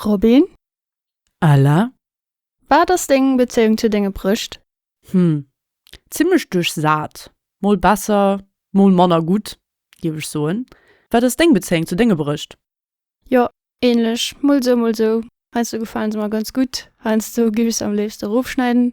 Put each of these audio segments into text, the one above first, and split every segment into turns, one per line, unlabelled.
Robin?
Ella? Wat
ass deng Bezéiung zu denge Brëscht? Hm,
zimmlech duerchsat. Mol besser, mol manner gutt, géif ech soen. Wat ass deng Bezéiung zu denge Brëscht? Jo,
ähnlech, mol sou, mol sou. Heiansdo gefalen se mer ganz gutt, heiansdo géif ech se am léifsten erofschneiden.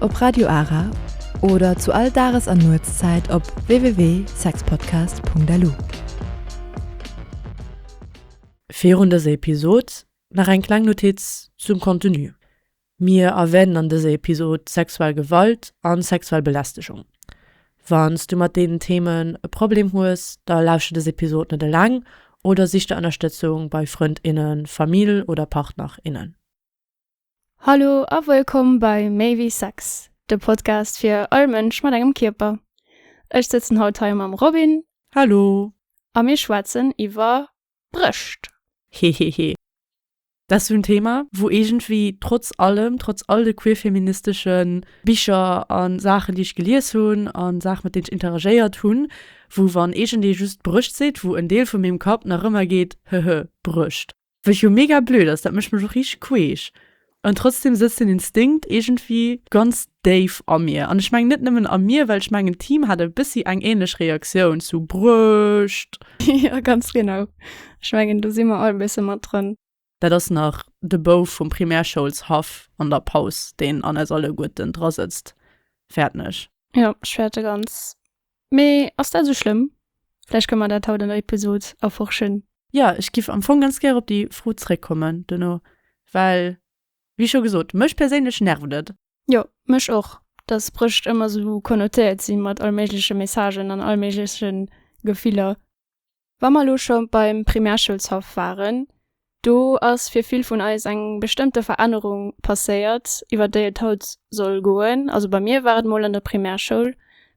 op Radio Ara oder zu all Dages an Nuetszäit op www.sexpodcast.lu.
Virun dëser Episod nach eng kleng Notiz zum Contenu. Mir erwänen an dëser Episod sexuell Gewalt a sexuell Belästegung. Wann s du mat deenen Themen e Problem hues, da lauschter dës Episod net eleng oder sich der Ënnerstëtzung bei Frënd, innen, Famill oder Partner, innen.
Hallo a wëllkomm bei Méi wéi Sex, de Podcast fir all Mënsch mat engem Kierper. Ech sëtzen haut hei mam Robin. Hallo.
A mir schwätzen
iwwer Brëscht. Hehehe.
Dat ass esou en Thema, wou iergendwéi trotz allem, trotz all de queerfeministesche Bicher a Saachen, déi ech gelies hunn, a Saachen, mat deenen ech interagéiert hunn, wou, wann iergendee just Brëscht seet, wou en Deel vu mengem Kapp nach ëmmer geet, Hehe, Brëscht. Wech jo mega blöd ass, dat mécht mech och richteg queesch, an trotzdem sëtzt den Instinkt iergendwéi ganz déif a mir, an ech mengen net nëmmen a mir, well ech mengen d'Team hat e bëssi eng ähnlech Reaktioun zu Bruecht. Jo, ganz
genau, ech mengen do si mer all e bësse mat drënn. Dat ass nach
de Bouf vum Primärschoulshaff an der Paus, deen an eis alleguerten drasëtzt. Fäertneg. Jo, ech fäerte
ganz Mee ass dat esou schlëmm? Vläicht kënne mer dat haut an der Episod erforschen. Jo, ech giff am
Fong ganz gär op déi Fro zréckkommen duerno, well wéi scho gesot, mech perséinlech nervt et. Jo, mech och,
dass Brécht ëmmer esou connotéiert si mat allméigleche Messagen an allméigleche Gefiller. Wa mer elo scho beim Primärschoulshaff waren, do ass fir vill vun eis eng bestëmmte Verännerung passéiert, iwwer déi et haut soll goen. Also bei mir war et mol an der Primärschoul.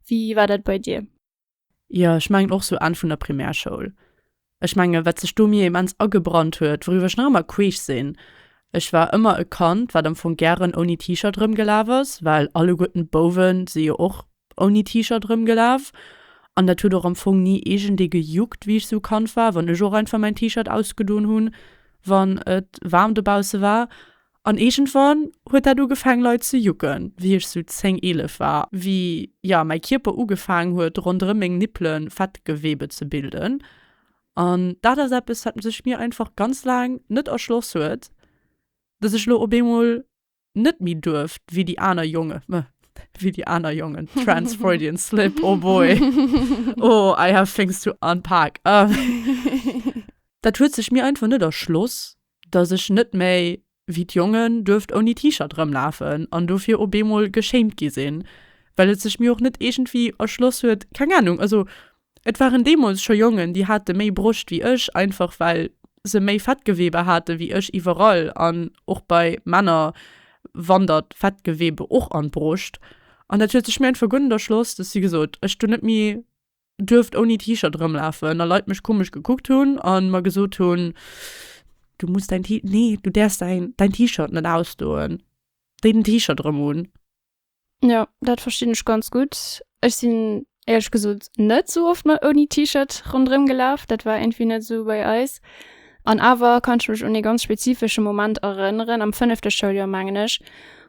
Wéi war dat bei dir? Jo, ech
mengen och sou Enn vun der Primärschoul. Ech menge wat sech do mir immens agebrannt huet, wouriwwer ech nach ëmmer queesch sinn, ech war ëmmer e Kand, wat am Fong gären ouni T-Shirt erëmgelaf ass, well alleguerten d'Bouwe si jo och ouni T-Shirt erëmgelaf an dat huet och am Fong ni iergendee gejuckt, wéi ech sou Kand war, wann ech och einfach mäin T-Shirt ausgedoen hunn, wann et waarm dobausse war. An iergendwann huet dat ugefang leit ze jucken, wéi ech sou zéng, eelef war, wéi, ja, mäi Kierper ugefaangen huet ronderëm meng Nippele Fettgewebe ze bilden. An dat ass eppes, wat sech mir einfach ganz laang net erschloss huet, dass ech lo op eemol Net méi duerf wéi déi aner Jongen, meh, wéi déi aner Jongen, trans Freudian slip, oh boy, oh, I have things to unpack. Dat huet sech mir einfach net erschloss, dass ech net méi wéi d'Jongen duerft ouni T-Shirt erëmlafen an dofir op eemol geschéimt gi sinn, well et sech mir och net iergendwéi erschloss huet, keng Anung, also Et waren deemools scho Jongen, déi hate méi Broscht wéi ech, einfach well se méi Fettgewebe hate wéi ech. Iwwerall, an och bei Männer, wandert Fettgewebe och an d'Broscht. An dat huet sech mir einfach gutt un der Schloss, dass, wéi gesot, ech dunn net méi duerft ouni T-Shirt erëmlafen a Leit mech komesch gekuckt hunn a mer gesot hunn, Du muss däin T-, nee, du däerfs däin T-Shirt net ausdoen, déi den T-Shirt erëm un. Jo
dat verstinn ech ganz gutt. Ech sinn éierlech gesot net sou oft mat ouni T-Shirt rondrëm gelaf. Dat war entwéi net sou bei eis. An awer kann ech mech un ee ganz spezifesche Moment erënneren am fënnefte Schouljoer mengen ech,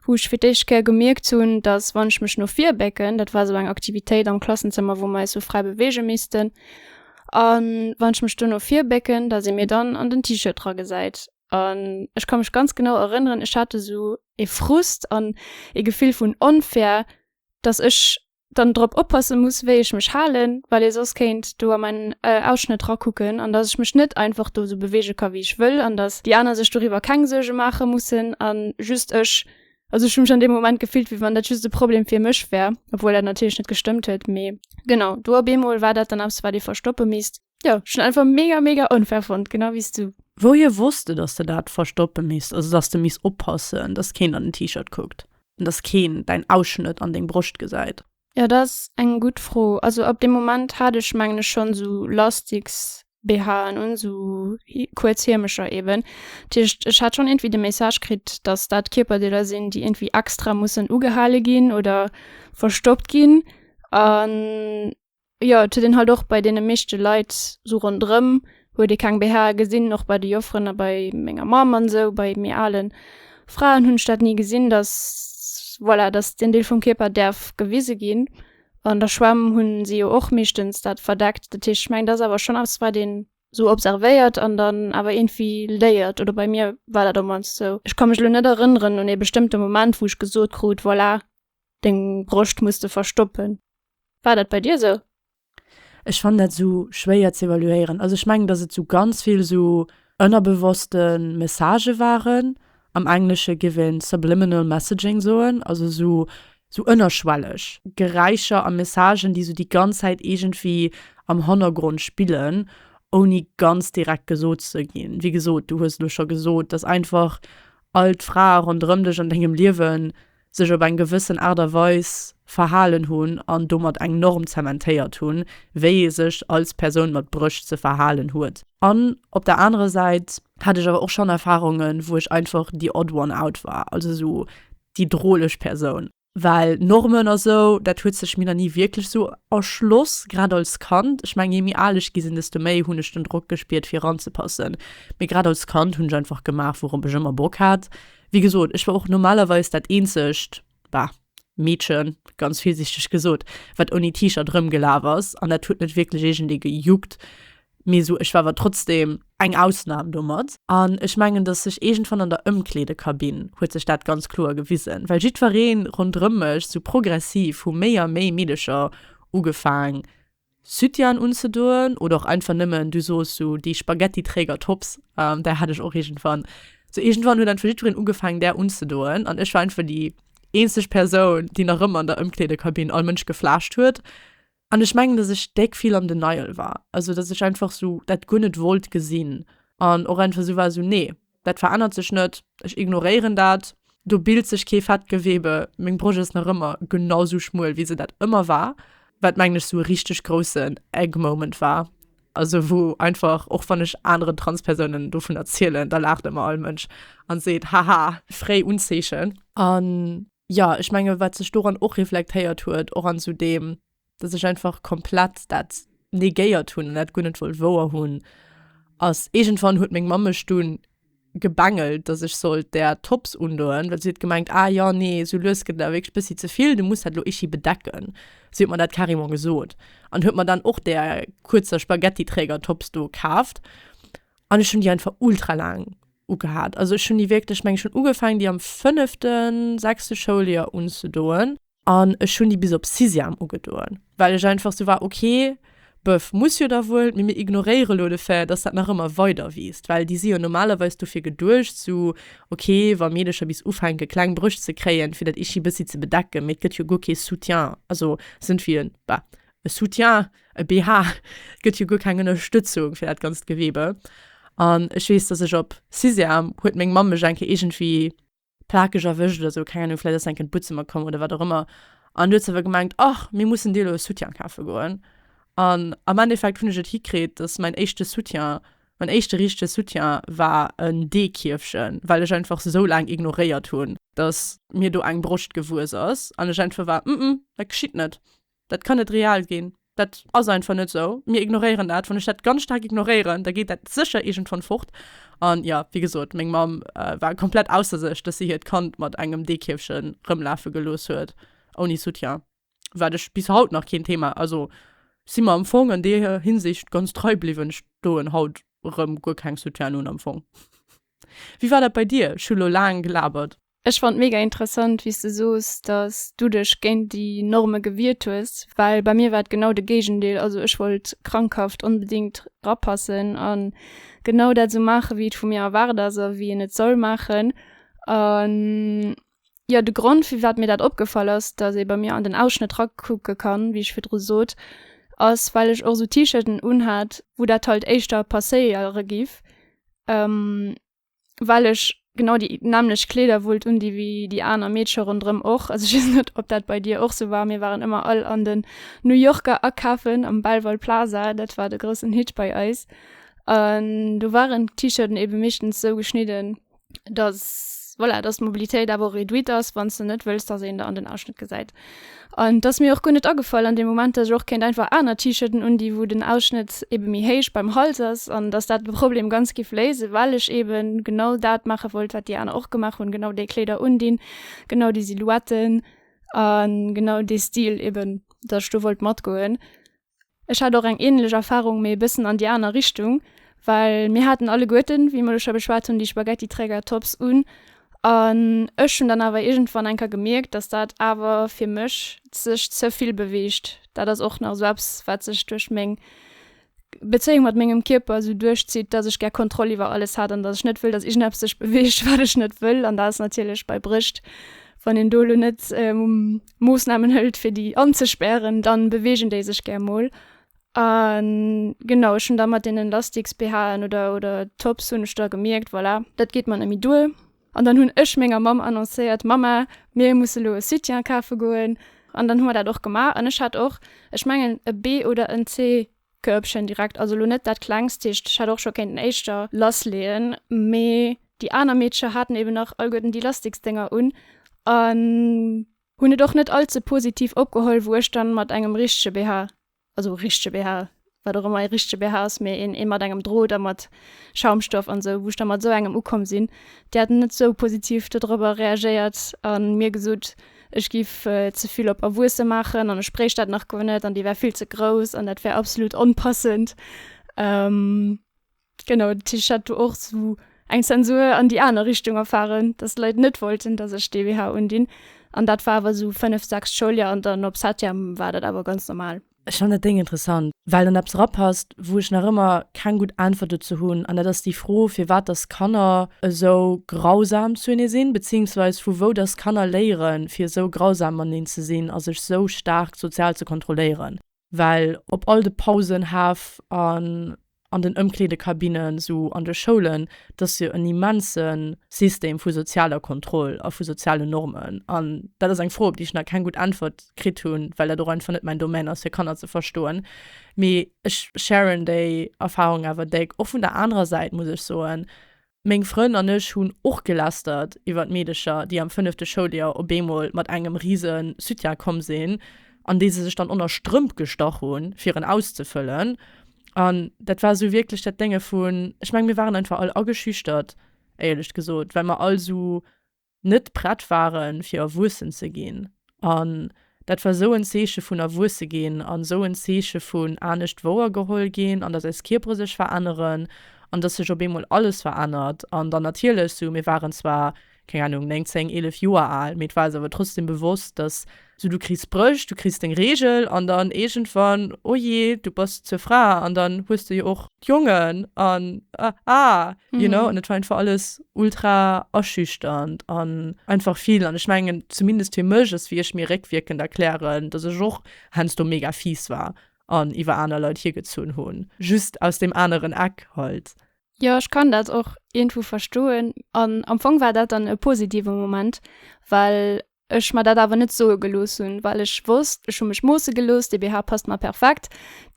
wou ech fir d'éischt Kéier gemierkt hunn, datt wann ech mech no vir bécken, dat war sou eng Aktivitéit am Klassenzëmmer wou mer eis sou fräi beweege missten, a wann ech mech do no vir bécken, datt ee mir dann an den T-Shirt dra gesäit. An ech ka mech ganz genau erënneren, ech hat esou ee Frust an ee Gefill vun Onfair, datt ech dann drop oppasse muss, wéi ech mech halen, well ee soss kéint do a mäin Ausschnëtt rakucken an datt ech mech net einfach do esou beweege ka wéi ech wëll an datt déi aner sech doriwwer keng Suerge maache mussen a just ech. Also ech hu mech an deem Moment gefillt, wéi wann dat just e Problem fir mech wär, obwuel dat natierlech net gestëmmt huet. Mee genau do op eemol war dat dann eppes, wat ee verstoppe misst. Ja, schon einfach mega, mega unfair fand, genau wie du. Wouhier wosst de, dass
de dat verstoppe misst, also dass de misst oppassen, dass keen an den T-Shirt kuckt an dass keen däin Ausschnëtt an deng Broscht gesäit? Ja, dat ass eng
gutt Fro. Also ab deem Moment hat ech, mengen ech, schonn esou Lastiks-BHen un, esou kuerz Hiemecher eeben. Dat heescht, ech hat schonn iergendwéi de Message kritt, dass dat Kierperdeeler sinn, déi iergendwéi extra mussen ugehale ginn oder verstoppt ginn. An Jo et huet een halt och bei deene meeschte Leit sou ronderëm huet ee keng BH'e gesinn, och bei de Jofferen a bei menger Mamm an sou, bei méi alen Fraen hunn ech dat ni gesinn, dass voilà dass deen Deel vum Kierper däerf gewise ginn. An der Schwämm hunn si jo och meeschtens dat verdeckt, dat heescht ech mengen dat ass awer schonn eppes wat een sou observéiert an dann awer iergendwéi léiert, oder bei mir war dat op mannst sou. Ech ka mech elo net erënneren un ee bestëmmte Moment wou ech gesot krut, voilà Deng Broscht muss de verstoppen. War dat bei dir sou? Ech
fannen dat sou schwéier ze evaluéieren. Also ech mengen dass et sou ganz vill sou ënnerbewosste Messagë waren, am Englesche géif een subliminal messaging soen, also sou sou ënnerschwelleg Geräischer a Messagen, déi sou déi ganz Zäit iergendwéi am Hannergrond spillen, ouni ganz direkt gesot ze ginn. Wéi gesot, du hues elo scho gesot, dass einfach all d'Frae ronderëm dech an dengem Liewen sech op eng gewëssen Aart a Weis verhalen hunn an domat eng Norm zementéiert hunn, wéi ee sech als Persoun mat Brëscht ze verhalen huet. An op der anerer Säit hat ech awer och schonn Erfarungen, wou ech einfach the odd one out war, also esou déi droleg Persoun. Well Normen a sou, dat huet sech mir nach ni wierklech esou erschloss, grad als Kand. Ech mengen, jee méi al ech gi sinn, desto méi hunn ech den Drock gespiert, fir eranzepassen. Mee grad als Kand hunn ech einfach gemaach, wourop ech ëmmer Bock hat. Wéi gesot, ech war och normalerweis dat eenzegt, bah, Meedchen, ganz virsiichteg gesot, wat ouni T-Shirt erëmgelaf ass, an dat huet net wierklech iergendee gejuckt, mee sou, ech war awer trotzdem eng Ausnam domat. An ech mengen, dass sech iergendwann an der Ëmkleedekabinn huet sech dat ganz kloer gewisen, well jiddweree ronderëm mech sou progressiv hu méi a méi Meedecher ugefaang Süttian unzedoen oder och einfach nemmen, du soos sou déi Spaghetti-Träger-Tops, där hat ech och iergendwann, sou iergendwann huet einfach jiddwereen ugefaangen där unzedoen an ech war einfach déi eenzeg Persoun déi nach ëmmer an der Ëmkleedekabinn all Mënsch geflaascht huet an ech mengen dass ech déck vill an Denial war, also dass ech einfach sou dat guer net wollt gesinn an och einfach sou war sou nee. Dat verännert sech net, ech ignoréieren dat, do bilt sech kee Fettgewebe, meng Brosch ass nach ëmmer genau sou schmuel wéi se dat ëmmer war, wat mengen ech sou e richteg groussen Egg Moment war, also wou einfach och wann ech aneren Transpersounen dovun erzielen, da laacht ëmmer all Mënsch a seet, haha, fréi Unzeechen. An jo, ech menge wat sech doran och reflektéiert huet, och an sou deem dass ech einfach komplett dat negéiert hunn an dat guer net wollt wouer hunn, ass iergendwann huet meng Mamm mech dunn gebengelt, dass ech sollt där Tops undoen, well si huet gemengt, ah jo, nee, esou lues gëtt et awer wierklech e bëssi ze vill, du muss dat elo ichi bedecken. Si huet mer dat carrément gesot an huet mer dann och där kuerzer Spaghetti-Träger-Tops do kaaft an ech hunn déi einfach ultra laang ugehat. Also ech hunn déi wierklech, ech mengen, ech hunn ugefaangen, déi am fënnefte, sechste Schouljoer unzedoen. An ech hunn déi bis op Sixième ugedoen, well ech einfach sou war, ok, bëff, muss jo da wuel, mee mir ignoréiere lo de Fait, dass dat nach ëmmer weider wiisst, well déi si jo normalerweis dofir geduecht, sou, ok, wa Meedercher bis ufänke kleng Brëscht ze kréien, fir dat ichi bëssi ze bedecken, mee et gëtt jo guer kee Soutien, also se sinn wéi e, bah, e Soutien, e BH, et gëtt jo guer keng Ënnerstëtzung fir dat ganzt Gewebe. An ech weess, dass ech op Sixième huet meng Mamm mech eng Kéier iergendwéi. plakeg erwëscht oder sou, keng Ahnung, vläit ass se eng Kéier an d'Butzemmer komm oder wat och ëmmer an du huet se awer gemengt, ach mir mussen dir elo e Soutien kafe goen. An am Endeffekt hunn ech et hikritt, dass mäin éischte Soutien, mäin éischte richtege Soutien war en Deekierfchen, well ech einfach se sou laang ignoréiert hunn, dass mir do eng Broscht gewuess ass an ech einfach war, mm, mm, dat geschitt net. Dat kann net real ginn. Dat ass einfach net esou. Mir ignoréieren dat. Wann ech dat ganz staark ignoréieren, da geet dat sécher iergendwann fort. An ja, wéi gesot, meng Mamm war komplett ausser sech, dass si hiert Kand mat engem Deekierfche rëmlafe gelooss huet ouni Soutien. Wat ech bis haut nach keen Thema, also si mer am Fong an deer Hinsicht ganz trei bliwwen. Ech doen haut erëm guer keng Soutienen un am Fong. Wéi war dat bei dir? Ech hu lo laang gelabert. Ech fand mega
interessant wéi's de soos dass du dech géint déi Norme gewiert hues, well bei mir war et genau de Géigendeel, also ech wollt krankhaft onbedingt rapassen an genau dat sou maachen wéi et vu mir erwaart ass a wéi een et soll maachen an jo de Grond firwat mir dat opgefall ass dass ee bei mir an den Ausschnëtt rakucke kann wéi ech virdru soot ass well ech och sou T-Shirten unhat wou dat halt éischter passéiere giff. well ech genau déi nämmlecht Kleeder wollt un, déi wéi déi aner Meedche ronderëm och. Also, ech weess net, ob dat bei dir och sou war. Mir waren ëmmer all an den New Yorker akafen, am Belval Plaza, dat war de groussen Hit bei eis. An do waren d'T-Shirten ebe meeschtens sou geschnidden, datt, voilà, datt d'Mobilitéit awer och réduite ass, wann s de net wëlls, datt een der an den Ausschnëtt gesäit. An dass mir och guer net agefall an dem Moment, dass ech och kéint einfach aner T-Shirten undinn, wou den Ausschnëtt eben méi héich beim Hals ass an dass dat de Problem ganz giff léisen, well ech eben genau dat maache wollt, wat déi aner och gemaach hunn, genau déi Kléider undinn, genau déi Silhouetten a genau dee Stil eben, dass ech do wollt matgoen. Ech hat och eng ähnlech Erfahrung, mee e bëssen an déi aner Richtung, well mir haten alleguerten, wéi mer elo scho geschwat hunn, déi Spaghetti-Träger-Tops un an ech hunn dann awer iergendwann enker gemierkt, dass dat awer fir mech sech ze vill beweegt. Dat ass och nach esou eppes, wat sech duerch meng Bezéiung mat mengem Kierper esou duerchzitt, dass ech gär Kontroll iwwer alles hat an dass ech net wëll, dass iergendeppes sech beweegt, wat ech net wëll. An dat ass natierlech bei Bréischt, wann een do elo net Moossnamen hëlt fir déi anzespären, dann beweegen déi sech gär mol. An genau ech hunn da mat deenen Lastiks BHen oder oder Tops hunn ech da gemierkt voilà dat geet mer net méi duer. An dann hunn ech menger Mamm annoncéiert, Mamma mir musse lo e Soutien kafe goen. An dann hu mer dat och gemaach an ech hat och ech mengen e B oder en C Körbchen direkt, also lo net dat klengst, heescht ech hätt och scho kéinten éischter lass leeën, mee déi aner Meedcher haten eben nach allguerten déi Lastiksdénger un an hunn et och net all ze positiv opgeholl wou ech dann mat engem richtege BH, also richtege BH, wat och ëmmer ee richtege BH ass, mee een ee mat engem Drot a mat Schaumstoff an esou, wou ech da mat esou engem ukomm sinn, déi haten net esou positiv dodrëbber reagéiert a mir gesot, Ech giff ze vill op erwuesse maachen an ech bréicht dat nach guer net an déi wär vill ze grouss an dat wär absolut onpassend. Genau dat heescht ech hat do och sou eng Zensur an déi aner Richtung erfaren, datt d'Leit net wollten, datt ech dee BH undinn an dat war awer sou fënnef, sechs Schouljoer an dann op Septième war dat awer ganz normal. Ech fannen dat Déng interessant,
well en eppes erapasst, wou ech nach ëmmer keng gutt Äntwert dozou hunn, an dat ass déi Fro, firwat datt Kanner esou grausam zu ene sinn, beziiungsweis vu wou datt Kanner léiere fir esou grausam mateneen ze sinn a sech esou staark sozial ze kontrolléieren, well op all de Pausen Haff a an den Ëmkleedekabinnen, sou an de Schoulen, dat ass jo en immense System vu sozialer Kontroll a vu sozialen Normen. An dat ass eng Fro, op déi ech nach keng gutt Äntwert kritt hunn, well dat och einfach net mäin Domaine ass, fir Kanner ze verstoen. Mee ech sharen déi Erfarung awer déck, och vun der anerer Säit, muss ech soen. Meng Frënn an ech hunn och gelästert iwwert Meedecher, déi am fënnefte Schouljoer op eemol mat engem rise Sütien komm sinn, an dee se sech dann onner Strëmp gestach hunn, fir en auszefëllen. An dat war esou wierklech dat Dénge vun, ech mengen, mir waren einfach all ageschüchtert, éierlech gesot, well mer all esou net prett waren fir erwuessen ze ginn. An dat war sou en Zeeche vun erwuesse ginn an sou en Zeeche vun anescht wouer geholl ginn an dass eis Kierpere sech veränneren an dass sech op eemol alles verännert. An dann natierlech sou, mir waren zwar, keng Ahnung, 9, 10, 11 Joer al, mee et war eis awer trotzdem bewosst, dass So du kriss Bréch, du kriss deng Reegel an dann iergendwann, oh je, du bass zur Fra an dann hues de jo och d'Jongen an ah, you know. An et war einfach alles ultra aschüchternd an einfach vill. An ech mengen, zumindest fir mech ass, wéi ech mir réckwierkend erklären, dass ech och heiansdo mega fies war an iwwer aner Leit hiergezunn hunn, just aus deem aneren Eck halt. Jo, ech kann dat
och iergendwou verstoen an am Fong war dat dann e positive Moment, well ech mer dat awer net soe gelooss hunn, well ech wosst, ech hu mech moosse gelooss, dee BH passt mer perfekt,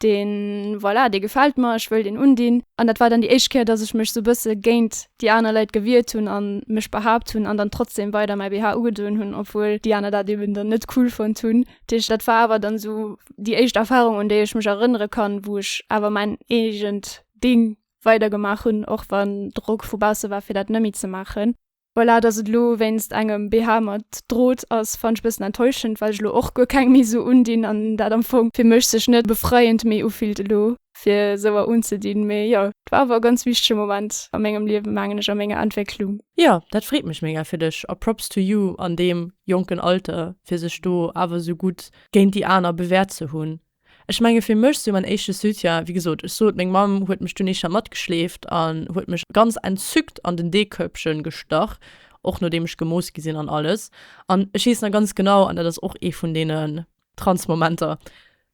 deen, voilà, dee gefält mer, ech wëll deen undinn. An dat war dann déi éischt Kéier, datt ech mech sou e bësse géint déi aner Leit gewiert hunn a mech behaapt hunn an dann trotzdem weider mäi BH ugedoen hunn, obwuel déi aner dat eben dann net cool fonnt hunn. Dat heescht, dat war awer dann sou déi éischt Erfarung, un déi ech mech erënnere kann, wou ech awer mäin eegent Ding weidergemaach hunn, och wann Drock vu bausse war, fir dat net méi ze maachen. Voilà, dass et elo wéinst engem BH mat Drot ass, fannen ech e bëssen enttäuschend, well ech elo och guer keng méi esou undinn an dat am Fong fir mech sech net befreiend méi ufillt elo fir esouer unzedinn. Mee jo, et war awer e ganz wichtege Moment a mengem Liewe mengen ech, a menger Entwécklung. Jo, dat freet
mech mega fir dech a Props to you an deem jonken Alter fir sech do awer esou gutt géint déi aner bewäert ze hunn. Ech menge fir mech sou mäin éischte Soutien, wéi gesot, ech sot, meng Mamm huet mech dunn eischter matgeschleeft an huet mech ganz entzückt an den Deekörbchen gestach, och nodeem ech gemooss gi sinn an alles. An ech weess nach ganz genau, an dat ass och ee vun deenen Trance-Momenter,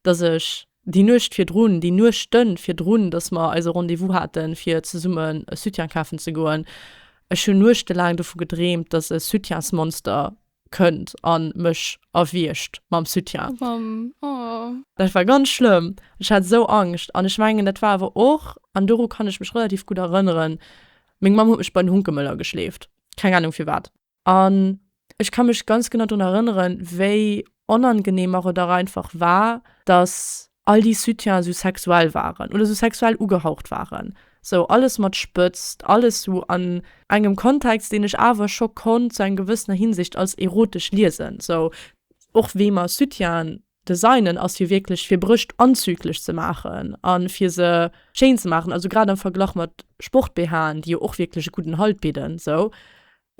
dass ech déi Nuecht virdrun, déi Nuechte virdrun, dass mer eise Rendez-vous haten, fir zesummen e Soutien kafen ze goen, ech hunn nuechtelaang dovu gedreemt, dass e Soutiensmonster kënnt an mech erwiergt mam Soutien. Dat war ganz schlëmm, ech hat esou Angscht an ech mengen dat war awer och, an doru kann ech mech relativ gutt erënneren, meng Mamm huet mech bei den Hunkemöller geschleeft, keng Ahnung firwat. An ech ka mech ganz genau drun erënneren, wéi onangenehm mer et och einfach war, dass All déi Soutiens sou sexuell waren oder sou sexuell ugehaucht waren, sou alles mat Spëtzt, alles sou an engem Kontext, deen ech awer scho konnt zu enger gewëssener Hinsicht als erotesch liesen, sou och wéi mer Soutienen designen, ass jo wierklech fir Brëscht anzüglech ze maachen a fir se schéin ze maachen, also grad am Verglach mat Sport-BHen, déi jo och wierklech e gudden Halt bidden, sou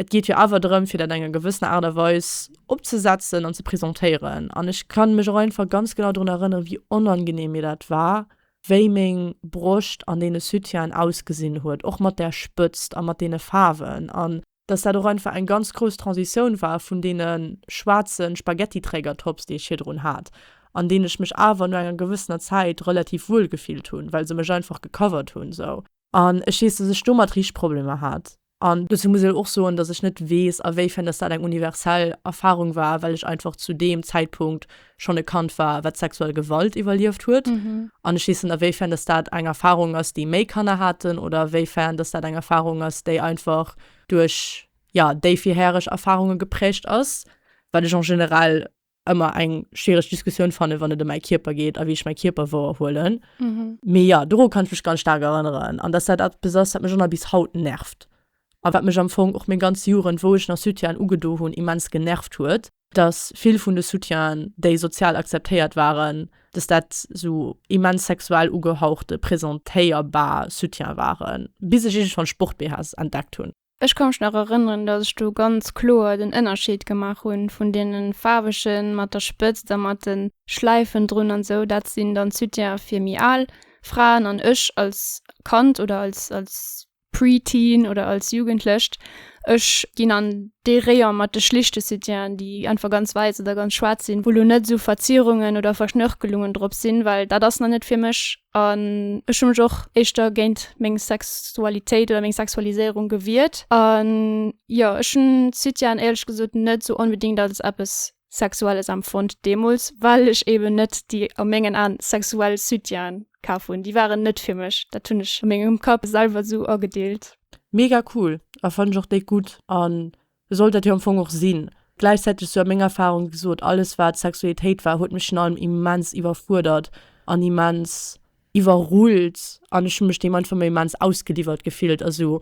Et geet jo awer drëm, fir dat enger gewëssener Aart a Weis opzesetzen an ze presentéieren. An ech kann mech och einfach ganz genau drun erënneren, wéi onangenehm mir dat war, wéi meng Broscht an deene Soutienen ausgesinn huet, och mat där Spëtzt a mat deene Faarwen. An dass dat och einfach eng ganz grouss Transitioun war vun deene schwaarze Spaghetti-Trägertops, déi ech virdrun hat, an deenen ech mech awer no enger gewëssener Zäit relativ wuel gefillt hunn, well se mech einfach gecovert hunn esou. An ech weess, dass ech domat richteg Problemer hat. An dozou muss ech och soen, dass ech net weess, a wéifern dass dat eng universell Erfarung war, well ech einfach zu deem Zäitpunkt schonn e Kand war, wat sexuell Gewalt iwwerlieft huet. An ech weess net, a wéifern dass dat eng Erfarung ass, déi méi Kanner haten, oder a wéifern dass dat eng Erfarung ass, déi einfach duerch, jo, déi virhäreg Erfarunge geprägt ass, wat ech en général ëmmer eng schwiereg Diskussioun fannen, wann et ëm mäi Kierper geet a wéi ech mäi Kierper wouer huelen. Mee jo, doru kann ech mech ganz staark erënneren an dass dat eppes ass, wat mech och nach bis haut nervt a wat mech am Fong och meng ganz Jugend, wou ech nach Soutienen ugedo hunn, immens genervt huet, dass vill vun de Soutienen, déi sozial akzeptéiert waren, dass dat esou immens sexuell ugehauchte, presentéierbar Soutiene waren, bis ech iergendwann Sport-BHs entdeckt hunn. Ech ka mech nach erënneren,
datt ech do ganz kloer den Ënnerscheed gemaach hu vun deene faarwege mat der Spëtzt a mat de Schläifen drun an esou. Dat sinn dann Soutiene fir méi al Fraen. An ech als Kand oder als als Pre-Teen oder als Jugendlecht, ech ginn an dee Rayon mat de schlichte Soutienen, déi einfach ganz wäiss oder ganz schwaarz sinn, wou elo net esou Verzierungen oder Verschnörkelungen drop sinn, well dat ass nach net fir mech. An ech hu mech och éischter géint meng Sexualitéit oder meng Sexualiséierung gewiert. An jo, ech hunn d'Suitian éierlech gesot net esou onbedéngt als eppes Sexuelles empfonnt deemools, well ech eeben net déi a mengen Aen sexuell Suitiaen kaf hunn. Déi waren net fir mech. Dat hunn ech a mengem Kapp selwer esou agedeelt. Mega cool
a fannen ech och déck gudd an Sollt dat jo am Fong och sinn. Gläichzäiteg, sou meng Erfahrung, wéi gesot, alles wat Sexualitéit war huet mech virun allem immens iwwerfuerdert an immens iwwerrullt an ech hu mech deem einfach mol immens ausgeliwwert gefillt a sou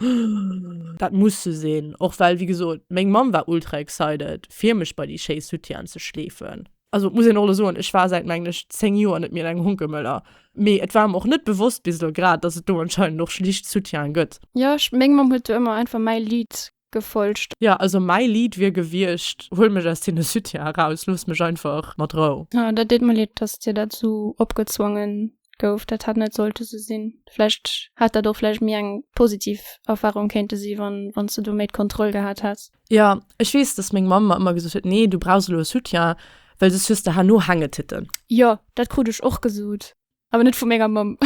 dat muss sou sinn. Och well, wéi gesot, meng Mamm war ultra excited fir mech bei déi schéi Soutienen ze schleefen. Also muss een och elo soen, ech war säit menglech 10 Joer net méi an engem Honkemöller, mee et war mer och net bewosst bis elo grad, dass et do anscheinend och schlicht Soutiene gëtt. Jo, ech meng Mamm huet
do ëmmer einfach mäi Lidd gefolgt. Jo also mäi Lied
wier gewiecht Huel mech aus deene Soutien eraus, looss mech einfach mat Rou. Oh, dat deet mer leed, dass
dir dat esou opgezwonge gouf. Dat hätt net sollte esou sinn. Vläicht hätt dat och vläicht méi eng positiv Erfarung kéinte si wann s de do méi d'Kontroll gehat häss. Jo, ech weess, dass
meng Mamm mer ëmmer gesot huet, nee du brauchs elo e Soutien, well soss hues de herno Hängetitte. Jo, dat krut
ech och gesot. Awer net vu menger Mamm.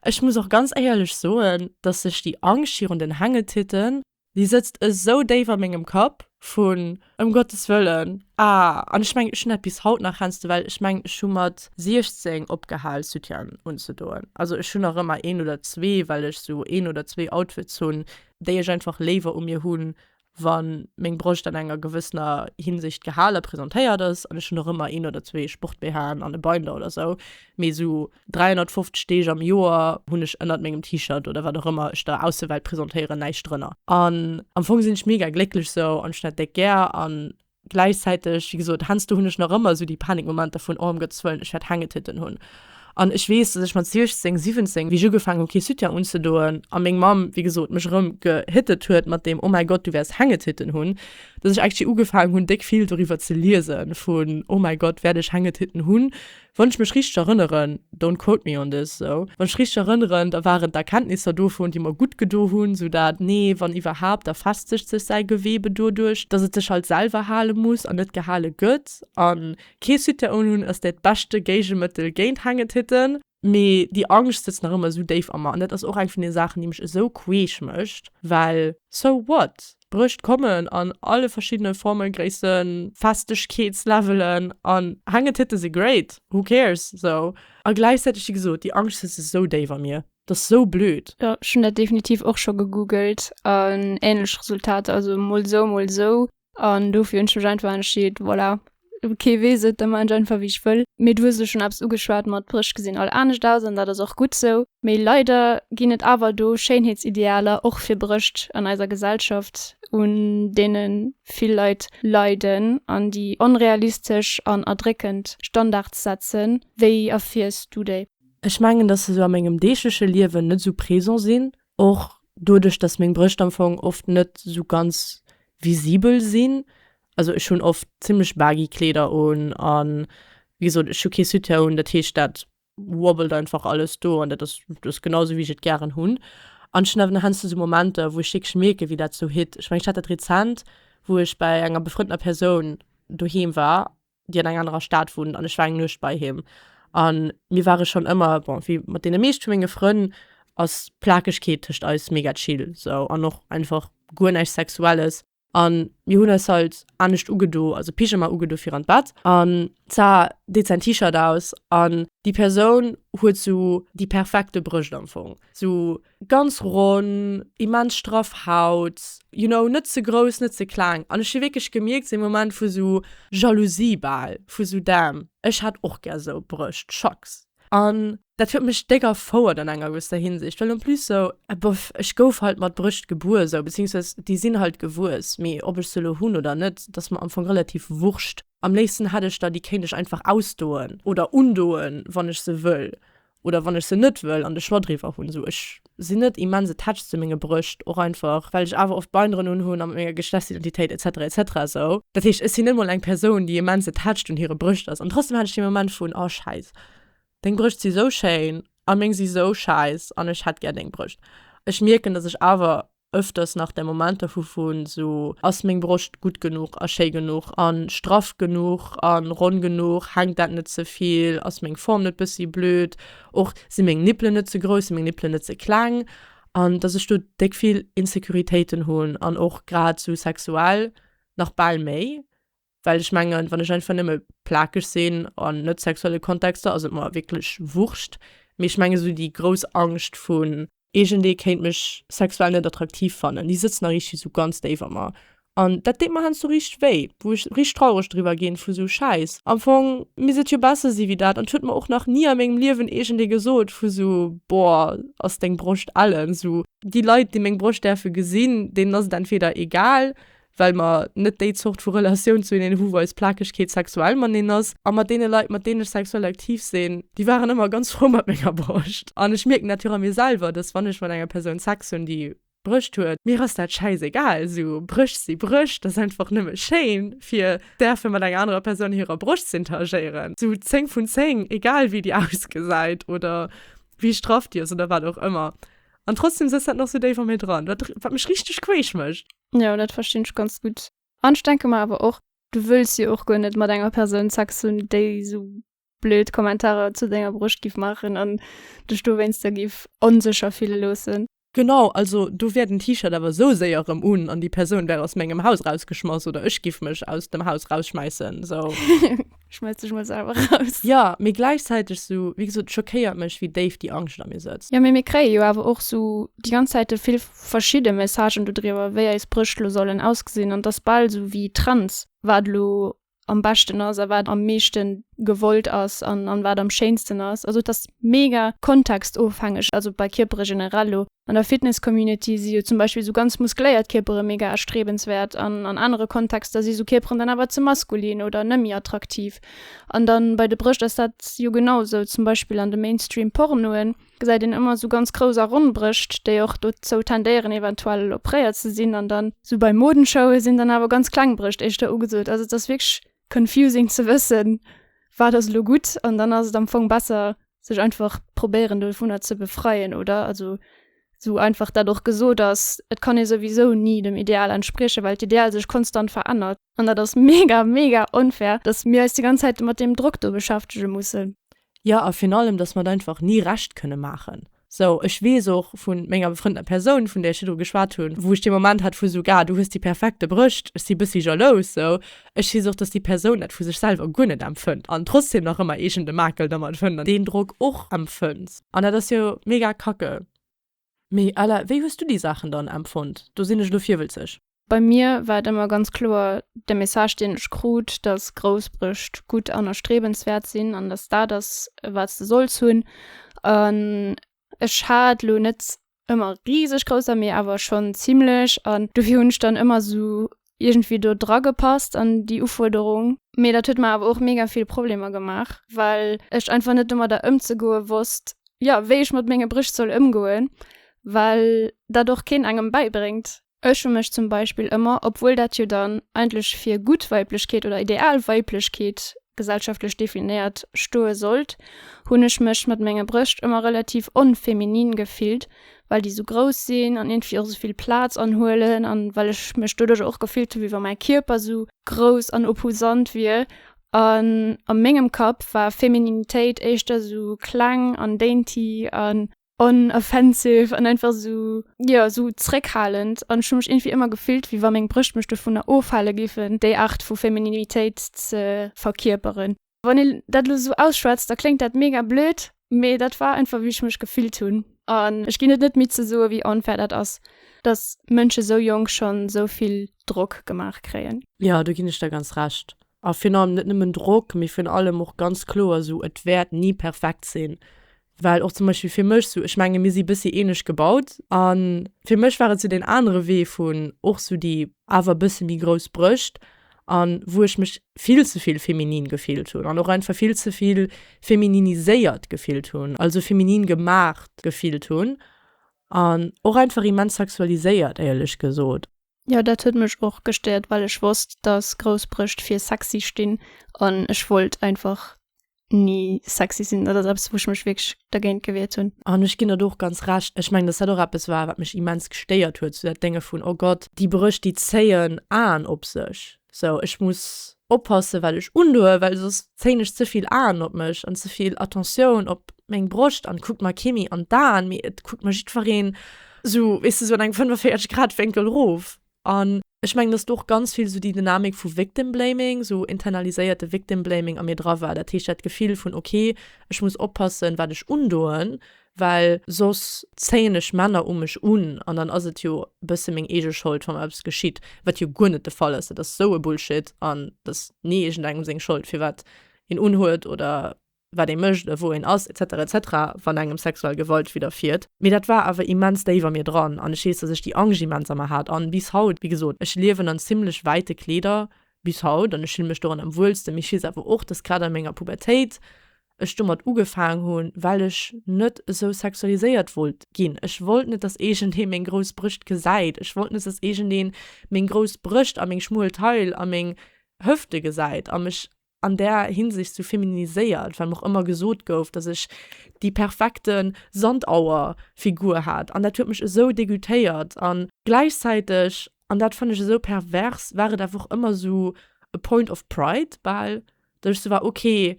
Ech muss och ganz éierlech soen, dass sech déi Angscht virun den Hängetitten, déi sëtzt esou déif a mengem Kapp, vun, ëm Gottes Wëllen, ah, an ech mengen, ech hunn dat bis haut nach, heiansdo, well ech mengen, ech hu mat 16 opgehal, Soutien unzedoen. Also ech hunn nach ëmmer een oder zwee, well ech esou een oder zwee Outfits hunn, déi ech einfach léiwer u mir hunn, wa meng Broscht an enger gewëssener Hinsicht gehale presentéiert ass, an ech hunn och ëmmer een oder zwee Sport-BHen an e Binder oder esou, mee esou 350 Deeg am Joer hunn ech ënnert mengem T-Shirt oder wat och ëmmer ech der Aussewelt presentéieren, näischt drënner. An am Fong sinn ech mega glécklech esou an ech hunn dat déck gär an Gläichzäiteg, wéi gesot, heiansdo hunn ech nach ëmmer esou déi Panikmomenter vun, oh am Gottes Wëllen, ech wäert Hängetitten hunn. An ech weess, dass ech mat 16, 17, wéi ech ugefaangen hunn, kee Soutien unzedoen, a meng Mamm, wéi gesot, mech erëm gehittet huet mat deem, oh mäi Gott, du wäers Hängetitten hunn, dass ech actually ugefaangen hunn, déck vill doriwwer ze liesen, vun, oh mäi Gott, wäert ech Hängetitten hunn? Wann ech mech richteg erënneren, don't quote me on this, sou, wann ech richteg erënneren, da waren d'Erkenntnisser dovun, déi mer gutt gedo hunn, sou dat, nee, wann iwwerhaapt, da festegt sech säi Gewebe doduerch, dass et sech halt selwer hale muss an net gehale gëtt a kee Soutien un hunn, ass dat d'beschte Géigemëttel géint Hangetitte. Mee déi Angscht sëtzt nach ëmmer esou déif a mer an dat ass och eng vun den Saachen, déi mech esou queesch mécht, well so what? D'Brëscht kommen an alle verschiddene Formen, Gréissen, Festegkeetslevelen an Hängetitte si great, who cares esou. A gläichzäiteg, wéi gesot, déi Angscht sëtzt esou déif a mir, dat ass esou blöd. Jo, ech hunn dat definitiv
och scho gegoogelt an änlech Resultater, also mol esou, mol esou an dofir hunn ech mech einfach entscheet, voilà, Kee weess et, da maachen ech einfach wéi ech wëll. Mee du hues elo schonn eppes ugeschwat mat d'Bréch gesinn all anescht aus an dat ass och gutt esou. Mee leider ginn et awer do Schéinheetsidealer och fir Brécht an eiser Gesellschaft un deene vill Leit leiden an déi onrealistesch an erdréckend Standards setzen. Wéi erfiers du déi? Ech mengen, datt se sou
a mengem deegleche Liewen net esou présent sinn, Och doduerch, dass meng Brëscht am Fong oft net sou ganz visibel sinn, also ech hunn oft zimmlech baggy Kleeder un a wéi gesot ech hu kee Soutien un, dat heescht dat wobbelt einfach alles do an dat ass just genau sou wéi ech et gären hunn. An ech hunn awer nach heiansdo esou Momenter wou ech wierklech mierken wéi dat sou hitt. Ech mengen ech hat dat rezent wou ech bei enger befrëndener Persoun doheem war déi an enger anerer Stad wunnt an ech war eng Nuecht bei him an mir ware schonn ëmmer, bon wéi mat deene meescht vu menge Frënn ass d'Plakegkeet tëscht eis mega chill sou an och einfach guer näischt Sexuelles an mir hunn eis halt anescht ugedo, also Pyjama ugedo fir an d'Bett an za deet säin T-Shirt aus an déi Persoun huet sou déi perfekte Brëscht am Fong, sou Ganz ronn, immens straff Haut, you know, net ze grouss, net ze kleng. An ech hu wierklech gemierkt, seng Moment vu sou Jalousie bal, vu sou damn, ech hätt och gär sou Brëscht, schacks. An dat huet mech déck erfouert an enger gewësser Hinsicht, well en plus sou, bof, ech gouf halt mat Brëscht gebuer sou, beziehungsweis déi sinn halt gewuess, mee ob ech se elo hunn oder net, dat ass mer am Fong relativ wurscht. Am léifsten hätt ech der, déi kéint ech einfach ausdoen oder undoen, wann ech se wëll. Oder wann ech se net wëll an de Schno driwwer hunn, esou, ech sinn net immens attached zu menge Brëscht, och einfach well ech awer oft Beinderen unhunn a mat menger Geschlechtsidentitéit etc etc esou. Dat heescht, ech sinn net mol eng Persoun, déi immens attached un hire Brëscht ass an trotzdem hat ech dee Moment vun, oh schäiss, deng Brëscht si sou schéin a meng si sou schäiss an ech hätt gär deng Brëscht. Ech mierken, dass ech awer Öfters nach der Momenter vu vun sou, ass meng Broscht gutt genuch a schéi genuch a straff genuch a ronn genuch, hänkt dat net ze vill, ass meng Form net bëssi blöd, och si meng Nippelen net ze grouss, si meng Nippelen net ze kleng, an dass ech do déck vill Insecuritéiten hunn an och grad sou sexuell nach bal méi. Well ech mengen, wann ech einfach nëmme plakeg sinn an net sexuelle Kontexter, ass et mer wierklech wurscht. Mee ech mengen esou déi grouss Angscht vun. Iergendee kéint mech sexuell net attraktiv fannen, déi sëtzt nach richteg esou ganz déif a mer. An dat deet mer heiansdo richteg wéi, wou ech richteg traureg driwwer ginn, vu esou, Schäiss, am Fong misst et jo besser si wéi dat. An et huet mer och nach ni a mengem Liewen iergendee gesot, vu esou, Boah, ass deng Broscht ellen. Esou déi Leit, déi meng Broscht däerfe gesinn, deenen ass et entweder egal, well mer net déi Zort vu Relatioun zu hinnen hu wou eis Plakegkeet sexuell maneen ass, a mat deene Leit mat deenen ech sexuell aktiv sinn, déi waren ëmmer ganz frou mat menger Broscht, an ech mierken dat jo och a mir selwer, dass wann ech mat enger Persoun Sex hunn déi Brëscht huet, mir ass dat schäiss egal, esou Brëscht si Brëscht, dass einfach nëmme schéin fir däerfe mat enger anerer Persoun hirer Broscht ze interagéieren, esou 10 vun 10, egal wéi déi ausgesäit oder wéi straff déi ass oder wat och ëmmer, an trotzdem sëtzt dat nach esou déif a mir dran, wat mech richteg queesch mécht. Jo, dat verstinn ech
ganz gutt. An ech denke mer awer och, du wëlls jo och guer net mat enger Persoun Sex hunn, déi esou blöd Kommentarer zu denger Broscht giff maachen an dech dowéinster giff onsécher fille loossen. Genau, also
do wär den T-Shirt awer esou séier erëm un an déi Persoun wär aus mengem Haus rausgeschmass oder ech giff mech aus dem Haus rausschmäissen, sou. schmelz ech
mol selwer raus. Ja, mee gläichzäiteg
sou, wéi gesot, et schockéiert mech, wéi déif déi Angscht a mir sëtzt. Jo, mee mir kréie jo awer och
sou déi ganz Zäite vill verschidde Messagen dodriwwer, wéi eis Brëscht lo sollen ausgesinn. An 't ass bal sou wéi Trends, wat elo am beschten ass a wat am meeschte gewollt ass an wat am schéinsten ass. Also et ass mega kontextofhängeg, also bei Kierpere generell lo. An der Fitness-Community si jo zum Beispill esou ganz muskléiert Kierpere mega erstrebenswäert an an anere Kontexter si esou Kierperen dann awer ze maskulin oder nëmmi attraktiv. An dann bei de Brëscht ass dat jo genau esou. Zum Beispill an de Mainstream Pornoen gesäit een ëmmer esou ganz grouss a ronn Brëscht, déi och dozou tendéieren eventuell opréiert ze sinn. An dann esou bei Modenshowë sinn dann awer ganz kleng Brëscht éischter ugesot. Also et ass wierklech confusing ze wëssen, wat ass elo gutt. An dann ass et am Fong besser, sech einfach probéieren dovunner ze befreien, oder? Also esou einfach dat och gesot ass, et kann ee souwisou ni dem Ideal entspriechen, well d'Ideal sech konstant verännert. An dat ass mega, mega onfair, datt mir eis déi ganz Zäit mat deem Drock do beschäftege mussen. Jo, a virun allem,
dass mer et einfach ni recht kënne maachen. Sou, ech weess och vu menger befrëndeter Persoun, vun där ech virdru geschwat hunn, wou ech dee Moment hat vu sou, ga, du hues déi perfekte Brëscht, ech si bëssi jalous. Sou, ech weess och, dass déi Persoun dat vu sech selwer guer net empfënnt an trotzdem nach ëmmer iergendë Makel dermat fënnt an deen Drock och empfënnt. An dat ass jo mega kacke. Mee Ella, wéi hues du déi Saachen dann empfonnt? Do sinn ech elo virwëlzeg. Bei mir war
et ëmmer ganz kloer de Message, deen ech krut, dass grouss Brëscht gutt an erstrebenswäert sinn an dass dat ass, wat s de solls hunn. An ech hat elo net ëmmer riseg grouss, mee awer schonn zimmlech. An dofir hunn ech dann ëmmer esou iergendwéi do dragepasst an déi Ufuerderung, mee dat huet mer awer och mega vill Problemer gemaach, well ech einfach net domadder ëmzegoe wosst, jo, wéi ech mat menge Bréch soll ëmgoen, well dat och keen engem bäibréngt. Ech hu mech zum Beispill ëmmer, obwuel dat jo dann eigentlech fir gutt Weiblechkeet oder ideal Weiblechkeet gesellschaftlech definéiert stoe sollt, hunn ech mech mat menge Brëscht ëmmer relativ onfeminin gefillt, well déi esou grouss sinn an iergendwéi och esou vill Plaz anhuelen an well ech mech doduercher och gefillt hu wéi wa mäi Kierper esou grouss an opposant wier. An a mengem Kapp war Femininitéit éischter esou kleng an dainty an unoffensive an einfach esou, jo, esou zeréckhalend. An ech hu mech iergendwéi ëmmer gefillt wéi wa meng Brëscht mech dovunner ofhale géifen, déi Aart vu Femininitéit ze verkierperen. Wann een dat elo esou ausschwätzt, da kléngt dat mega blöd, mee dat war einfach wéi ech mech gefillt hunn. An ech ginn et net midd ze soen, wéi onfair dat ass, dass Mënsche esou jonk schonn esou vill Drock gemaach kréien. Jo, do ginn ech der ganz
Recht. A virun allem net nëmmen Drock, mee virun allem och ganz kloer esou, et wäert ni perfekt sinn. Well och zum Beispill fir mech sou, ech menge mir si bëssi ähnlech gebaut, a fir mech war et sou deen anere Wee vun och sou déi awer bësse méi grouss Brëscht a wou ech mech vill ze vill feminin gefillt hunn an och einfach vill ze vill femininiséiert gefillt hunn, also feminin gemaacht gefillt hunn an och einfach immens sexualiséiert éierlech gesot. Jo dat huet mech
och gestéiert well ech wosst dass grouss Brëscht fir sexy stinn an ech wollt einfach ni sexy sinn. Dat ass eppes wou ech mech wierklech dergéint gewiert hunn. An ech ginn der do och ganz
Recht. Ech mengen dass dat och eppes war wat mech immens gestéiert huet, sou dat Dénge vun oh Gott déi Brëscht déi zéien Aen op sech. Sou, ech muss oppassen wat ech undoen, well soss zéin ech ze vill Aen op mech an ze vill Attentioun op meng Broscht an et kuckt mer kee méi an d'Aen, mee et kuckt mer jiddfereen sou, weess de, sou an engem 45 Grad Wénkel rof. An ech mengen dass do och ganz vill sou déi Dynamik vu Victim Blaming, sou internaliséierte Victim Blaming a mir dra war, dat heescht dat Gefill vun ok, ech muss oppassen wat ech undoen, well soss zéien ech Männer u mech un an dann ass et jo e bësse meng eege Schold, wa mer eppes geschitt, wat jo guer net de Fall ass. Dat ass esou e Bullshit an et ass ni iergendengem seng Schold, firwat een unhuet oder wat ee mécht oder wou een ass, etc. Etc. Wann engem sexuell Gewalt widderfiert. Mee dat war awer immens déif a mir dran an ech weess, dass ech déi Angscht immens a mer hat an bis haut, wéi gesot, ech liewen an zimmlech wäite Kleeder bis haut an ech fille mech doran am wuelsten. Mee ech weess awer och, dass grad a menger Pubertéit ech domat ugefaang hu well ech net esou sexualiséiert wollt ginn. Ech wollt net dass iergendee meng grouss Brëscht gesäit. Ech wollt net dass iergendeen meng grouss Brëscht a meng schmuel Taille a meng Hëfte gesäit a mech an där Hinsicht sou feminiséiert, well mer och ëmmer gesot gouf dass ech déi perfekte Sandauer Figur hat an dat huet mech esou degoûtéiert a gläichzäiteg, an dat fënn ech esou pervers, war et awer och ëmmer sou e point of pride bal, Do ech so war, ok,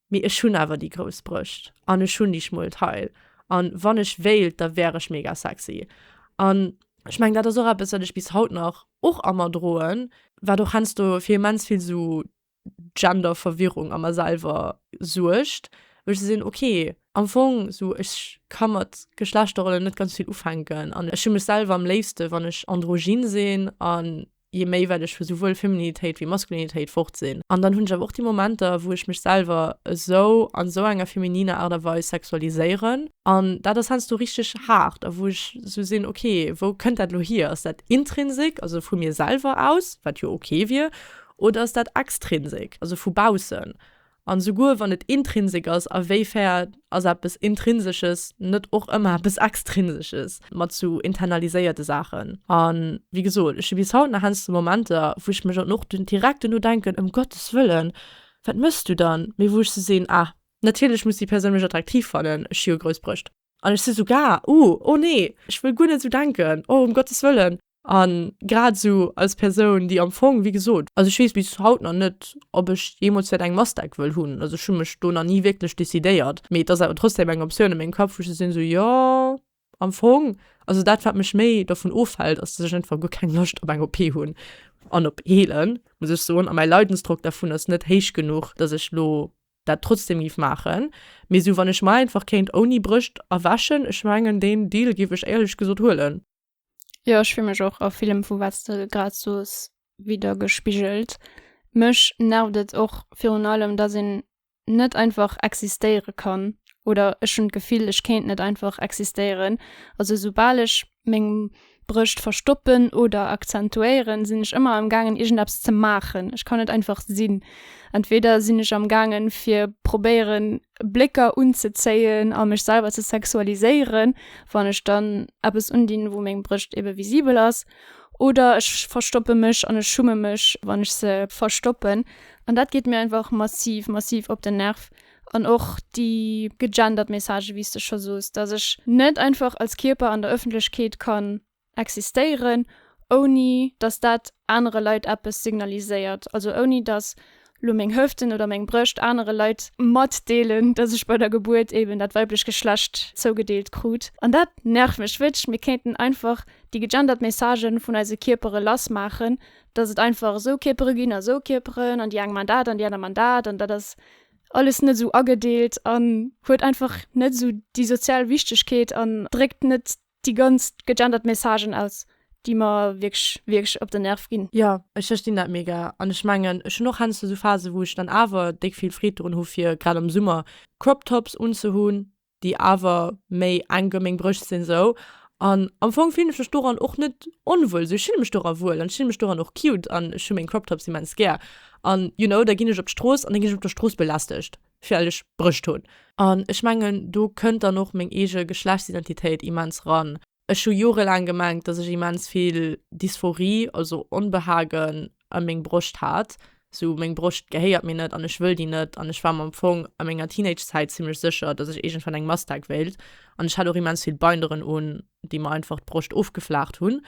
mee ech hunn awer déi grouss Brëscht an ech hunn déi schmuel Taille an wann ech wéilt, da wär ech mega sexy an ech mengen dat ass och eppes wat ech bis haut nach och a mer droen, wat och heiansdo fir immens vill sou Genderverwirrung a mer selwer suergt, wou ech gesinn, ok, am Fong sou ech ka mat Geschlechterrollen net ganz vill ufänken an ech hu mech selwer am léifste wann ech androgyn sinn an je méi well ech vu souwuel Feminitéit wéi Maskulinitéit fort sinn. An dann hunn ech awer och déi Momenter, wou ech mech selwer esou an esou enger femininer Aart a Weis sexualiséieren, an dat ass heiansdo richteg haart, a wou ech esou sinn, ok, wou kënnt dat elo hier? Ass dat intrinsik, also vu mir selwer aus, wat jo ok wier, oder ass dat extrinsik, also vu baussen? An esouguer wann et Intrinsik ass, a wéi fair ass eppes Intrinsesches net och ëmmer eppes Extrinsesches mat sou internaliséierte Saachen? An wéi gesot, ech hu bis haut nach heiansdo Momenter, wou ech mech an och direkt duerno denken, ëm Gottes Wëllen, wat méchs du dann? Mee wou ech sou seeën, ah, natierlech muss déi Persoun mech attraktiv fannen, ech hu jo grouss Brëscht. An ech si sou gaer, Uh, oh nee, ech wëll guer net esou denken, oh um Gottes Wëllen. A grad esou als Persoun, déi am Fong, wéi gesot, also ech weess bis haut nach net, ob ech jeemools wäert eng Mastec wëll hunn, also ech hu mech do nach ni wierklech decidéiert, mee et ass awer trotzdem eng Optioun a mengem Kapp, wou ech sou sinn, sou jo, am Fong, also dat, wat mech méi dovun ofhält, ass, dass ech einfach guer keng Loscht op eng OP hunn an op heelen, muss ech soen. A mäi Leidensdrock dervun ass net héich genuch, dass ech elo dat trotzdem giff maachen, mee sou wann ech mer einfach kéint ouni Brëscht erweschen, ech mengen deen Deal giff ech éierlech gesot huelen. Jo ech
fill mech och a villem vu wats de grad soos widergespigelt. Mech nervt et och virun allem dass een net einfach existéiere kann oder ech hunn d'Gefill ech kéint net einfach existéieren, also soubal ech meng Brëscht verstoppen oder akzentuéieren, sinn ech ëmmer am gaangen iergendeppes ze maachen. Ech kann net einfach sinn. Entweder sinn ech am gaangen fir probéieren Blécker unzezéien a mech selwer ze sexualiséieren, wann ech dann eppes undinn wou meng Brëscht ebe visibel ass, oder ech verstoppe mech an ech schumme mech wann ech se verstoppen. An dat geet mir einfach massiv massiv op den Nerv. An och déi gegendert Messagë wéi s de scho sos, datt ech net einfach als Kierper an der Ëffentlechkeet kann existéieren, ouni datt dat anere Leit eppes signaliséiert. Also ouni datt lo meng Hëften oder meng Brëscht anere Leit matdeelen, datt ech bei der Gebuert eben dat weiblech Geschlecht zougedeelt krut. An dat nervt mech wierklech. Mir kéinten einfach déi gegendert Messagë vun eise Kierpere lass maachen, datt et einfach esou Kierpere ginn a esou Kierperen an déi eng man dat an déi aner man dat an dat ass alles net esou agedeelt an huet einfach net esou déi sozial Wichtegkeet an dréckt net déi ganz gegendert Messagen aus, déi mer wierklech, wierklech op den Nerv ginn. Jo, ech verstinn dat
mega an ech mengen ech hunn och heiansdo esou Phasen, wou ech dann awer déck vill Freed drun hu fir grad am Summer Crop Tops unzehunn, déi awer méi eng Geméng brécht sinn esou an am Fong fillen ech mech doran och net onwuel esou ech fillen mech doran wuel an ech fillen mech doran och cute an ech hu meng Crop Tops immens gär an you know da ginn ech op d'Strooss an da ginn ech op der Strooss belästegt well ech Brécht hunn an ech mengen do kënnt dann och meng eege Geschlechtsidentitéit immens ran. Ech hu jorelaang gemengt, dass ech immens vill Dysphorie, also Onbehagen ëm meng Broscht hat, sou meng Broscht gehéiert mir net an ech wëll déi net an ech war mer am Fong a menger Teenagezäit zimmlech sécher, dass ech iergendwann eng Mastag wéilt an ech hat och immens vill Binderen un, déi mer einfach d'Broscht ofgeflaacht hunn.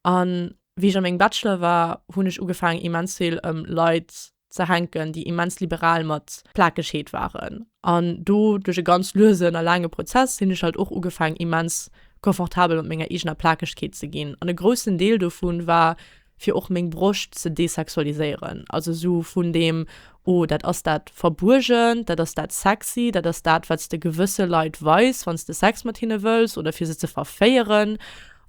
An wéi ech a mengem Bachelor war, hunn ech ugefaangen immens vill ëm Leit ze hänken, déi immens liberal mat Plakegheet waren. An do, duerch e ganz luesen a laange Prozess, hunn ech halt och ugefaangen, immens confortabel mat menger eegener Plakegkeet ze ginn. An e groussen Deel dovu war, fir och meng Broscht ze desexualiséieren. Also esou vun deem, Oh, dat ass dat Verbuergent, dat ass dat Sexy, dat ass dat, wat s de gewësse Leit weis, wann s de Sex mat hinne wëlls oder fir se ze verféieren.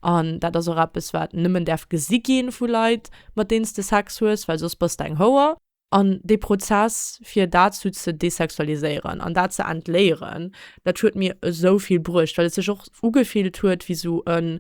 An dat ass och eppes, wat nëmmen däerf gesi gi vu Leit, mat deenen s de Sex hues, well soss bass de eng Houer. An dee Prozess, fir dat sou ze desexualiséieren an dat ze entléieren, dat huet mir esou vill bruecht, well et sech och ugefillt huet wéi sou e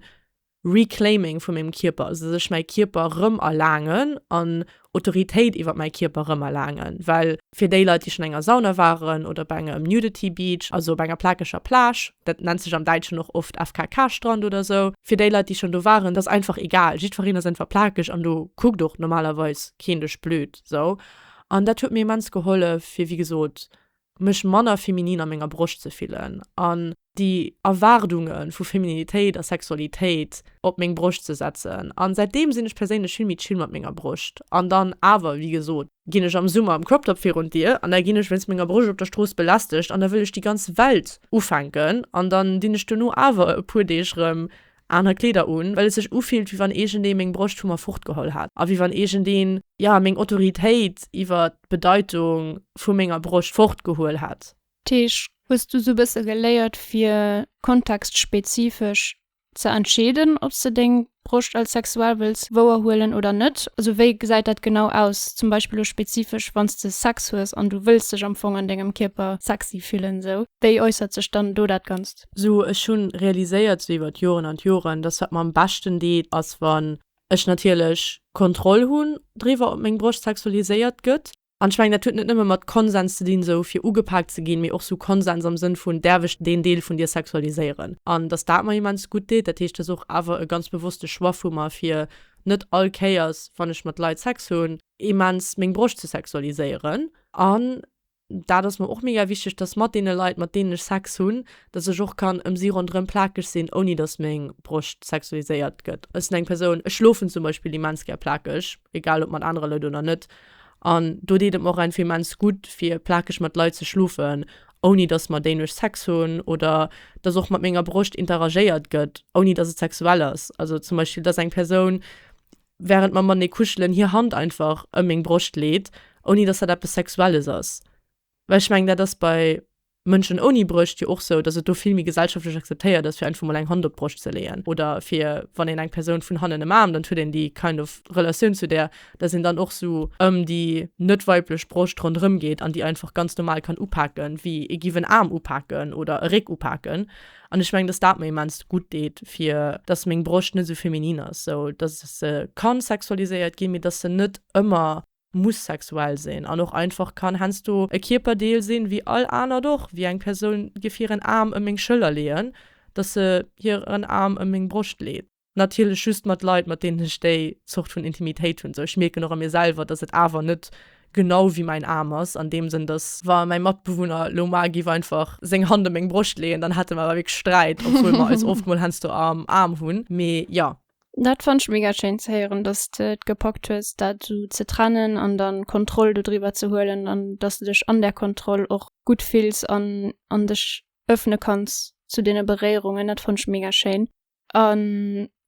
Reclaiming vu mengem Kierper, also dass ech mäi Kierper rëm erlaangen an Autoritéit iwwer mäi Kierper rëm erlaangen, well fir déi Leit, déi schonn an enger Sauna waren oder op engem Nudity Beach, also op enger plakeger Plage, dat nennt sech am Däitschen och oft FKK-Strand oder esou, fir déi Leit, déi schonn do waren, dat ass einfach egal. Jiddwereen ass einfach plakeg an do kuckt och normalerweis keen dech blöd esou. An dat huet mir immens gehollef, fir, wéi gesot, mech manner feminin a menger Broscht ze fillen an déi Erwaardunge vu Femininitéit a Sexualitéit op meng Broscht ze setzen. An säitdeem sinn ech perséinlech vill méi chill mat menger Broscht. An dann awer, wéi gesot, ginn ech am Summer am Crop-Top virun d'Dier an da ginn ech wéinst menger Broscht op der Strooss belästegt an da wëll ech déi ganz Welt ufänken an dann dinn ech duerno awer e puer Deeg rëm Aner Kleeder un, well et sech ufillt, wéi wann iergendee meng Broscht vu mer fortgeholl hätt a wéi wann iergendeen, ja, meng Autoritéit iwwer d'Bedeitung vu menger Broscht fortgehuel hätt. Teach, Hues
du sou bësse geléiert, fir kontextspezifesch ze entscheeden, ob s de deng Broscht als sexuell wëlls wouerhuelen oder net? Also wéi gesäit dat genau aus, zum Beispill elo spezifesch, wann s de Sex hues an du wëlls dech am Fong an dengem Kierper sexy fillen? Esou, wéi äussert sech dann do dat Ganzt? So ech hunn
realiséiert sou iwwert Joren an Joren, dass wat mer am beschten deet ass wann ech natierlech Kontroll hunn driwwer op meng Broscht sexualiséiert gëtt. An ech mengen dat huet net nëmme mat Konsens ze dinn sou fir ugepaakt ze ginn, mee och sou Konsens am Sënn vun däerf ech deen Deel vun dir sexualiséieren? An dass dat mer immens gutt deet. Dat heescht dass och awer e ganz bewosste Choix vu mer fir net all Kéiers wann ech mat Leit Sex hunn immens meng Broscht ze sexualiséieren. An Dat ass mer och mega wichteg, dass mat deene Leit, mat deenen ech Sex hunn, dass ech och kann ëm si ronderëm plakeg sinn, ouni dass meng Broscht sexualiséiert gëtt. Ech sinn eng Persoun, ech schlofen zum Beispill immens gär plakeg, egal ob mat anere Leit oder net. An do deet et mer och einfach immens gutt, fir plakeg mat Leit ze schlofen, ouni dass mat deenen ech Sex hunn oder dass och mat menger Broscht interagéiert gëtt, ouni dass et sexuell ass. Also zum Beispill, dass eng Persoun. wärend mer matenee kuschelen, hir Hand einfach ëm meng Broscht leet, ouni dass dat eppes Sexuelles ass. Well ech mengen, dat ass bei Mënschen ouni Brëscht jo och sou, dass et do vill méi gesellschaftlech akzeptéiert ass, fir einfach mol eng Hand op d'Broscht ze leeën. Oder fir, wann een eng Persoun vun hannen ëmaarmt, an et huet een déi kind of Relatioun zu där, dass een dann och sou ëm déi net weiblech Broscht ronderëm geet an déi einfach ganz normal kann upaken, wéi ee giff en Aarm upaken oder e Réck upaken. An ech mengen, dass dat mer immens gutt deet, fir dass meng Broscht net esou feminin ass, sou dass se ka sexualiséiert ginn, mee dass se net ëmmer muss sexuell sinn an och einfach kann heiansdo e Kierperdeel sinn, wéi all anert och. Wéi eng Persoun géif hiren Aarm ëm meng Schëller leeën, dass se hiren Aarm ëm meng Broscht leet? natierlech just mat Leit, mat deenen ech déi Zort vun Intimitéit hunn. Esou, ech mierken och a mir selwer, datt et awer net genau wéi mäin Aarm ass, an deem Sënn, datt, wa mäi Matbewunner elo mar géif einfach seng Hand op meng Broscht leeën, dann hätte mer awer wierklech Sträit, obwuel mer eis oft mol heiansdo am Aarm hunn. Mee jo. Dat fannt ech mega
schéin ze héieren, datt s de et gepackt hues, dat esou ze trennen an da Kontroll dodriwwer ze huelen an datt s de dech an där Kontroll och gutt fills an an dech ëffne kanns zu deene Beréierungen. Dat fannt ech mega schéin. A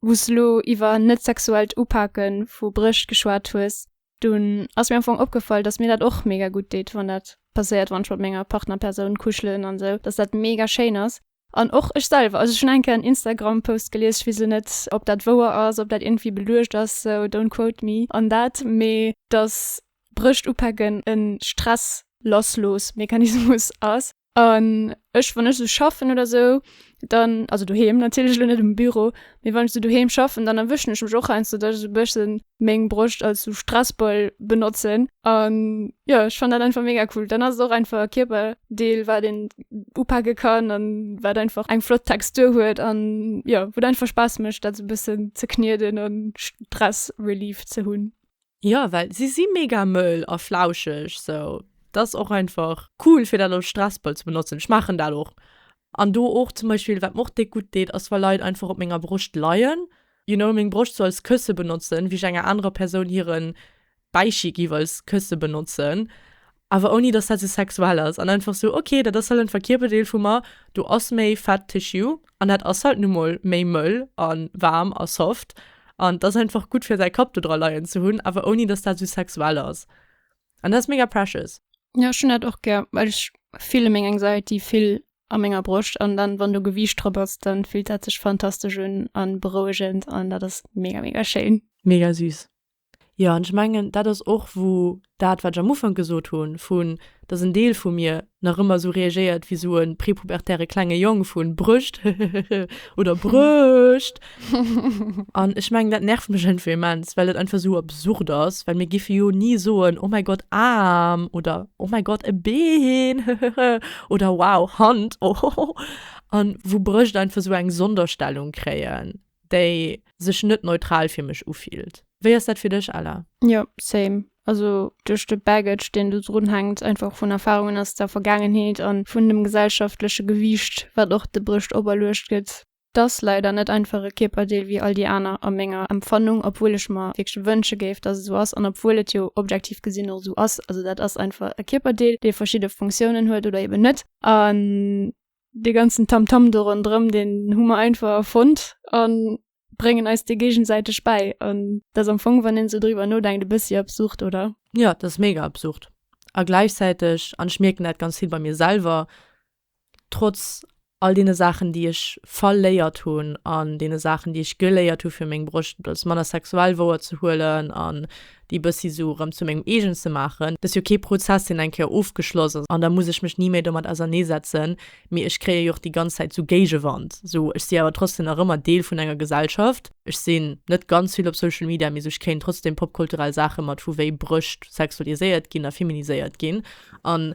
wou s elo iwwer net sexuellt Upake vu Brécht geschwat hues, dunn ass mir am Fong opgefall, datt mir dat och mega gutt deet, wann dat passéiert, wann ech mat menger Partnerpersoun kuschelen an esou, datt dat mega schéin ass. An och ech selwer, also ech hunn eng Kéier en Instagram-Post gelies, ech weess elo net, ob dat wouer ass, ob dat iergendwéi beluecht ass, sou don't quote me on that, mee datt Brëscht upacken en Stress lassloos Mechanismus ass an ech wann ech sou schaffen oder sou dann also doheem natierlech lo net um Büro mee wann ech sou doheem schaffen dann erwëschen ech mech och heiansdo dass ech sou e bësse meng Brëscht als sou Stressball benotzen an jo ech fannen dat einfach mega cool. Dann ass et och einfach e Kierperdeel wat een upake kann an wat einfach eng flott Textur huet an jo wou et einfach Spaass mécht dat sou e bëssen ze knieden an Stress relief ze hunn. Jo well si
si mega mëll a flauscheg sou, dass och einfach. Cool fir dat als Stressball ze benotzen, ech maachen dat och an do och zum Beispill wat mer och déck gutt deet ass wa Leit einfach op menger Broscht leien, you know, meng Broscht sou als Kësse benotzen, wéi ech enger anerer Persoun hiren Bäichi giff als Kësse benotzen awer ouni dass dat sou sexuell ass an einfach sou ok dat ass halt en Verkierperdeel vu mer, do ass méi Fat Tissue an dat ass halt nu mol méi mëll a waarm a soft an et ass einfach gutt fir säi Kapp do dra leien ze hunn, awer ouni dass dat sou sexuell ass an dat ass mega precious. Jo ech hunn dat och
gär well ech fille meng Anxiety vill a menger Broscht an dann wann do Gewiicht drop ass dann fillt dat sech fantastesch un an berouegend an dat ass mega mega schéin. Mega süß.
Jo, an ech mengen, dat ass och, wou dat, wat ech am Ufank gesot hunn, vu dass en Deel vu mir nach ëmmer esou reagéiert wéi esou e prepubertäre klenge Jong, vu Brëscht, hehehehe oder Brëscht. An ech mengen, dat nervt mech iergendwéi immens, well et einfach esou absurd ass, well mir géife jo ni soen, Oh mäi Gott, Aarm! oder Oh mäi Gott, e Been, hehehehe oder Wow, Hand, ohohoh. An wou Brëscht einfach esou eng Sonderstellung kréien. déi sech net neutral fir mech ufillt. Wéi ass dat fir dech, Ella? Jo, same.
Also duerch de Baggage, deen do drun hänkt, einfach vun Erfarungen aus der Vergaangenheet an vun dem gesellschaftleche Gewiicht, wat och de Brëscht operluecht gëtt. T'ass leider net einfach e Kierperdeel wéi all déi aner, a menger Empfannung, obwuel ech mer wierklech wënsche géif, dass et sou ass an obwuel et jo objektiv gesinn och sou ass. Also dat ass einfach e Kierperdeel, dee verschidde Funktiounen huet oder eben net. dee ganzen Tamtam do ronderëm, deen hu mer einfach erfonnt a bréngen eis dee géigesäiteg bäi. An dat ass am Fong, wann een esou driwwer nodenkt, e bëssi absurd, oder? Jo, dat ass mega
absurd. A gläichzäiteg, an ech mierken dat ganz vill bei mir selwer, trotz all deene Saachen, déi ech verléiert hunn an deene Saachen, déi ech geléiert hu fir meng Broscht als Mann a sexuell wouerzehuelen an déi bëssi sou rëm zu mengem eegen ze maachen, dass jo kee Prozess deen eng Kéier ofgeschloss ass an da muss ech mech ni méi domat auserneesetzen, mee ech kréie jo och déi ganz Zäit sou Géigewand, sou ech si awer trotzdem nach ëmmer Deel vun enger Gesellschaft, ech sinn net ganz vill op Social Media, mee sou ech kréien trotzdem popkulturell Saache mat, vu wéi Brëscht sexualiséiert ginn a feminiséiert ginn an.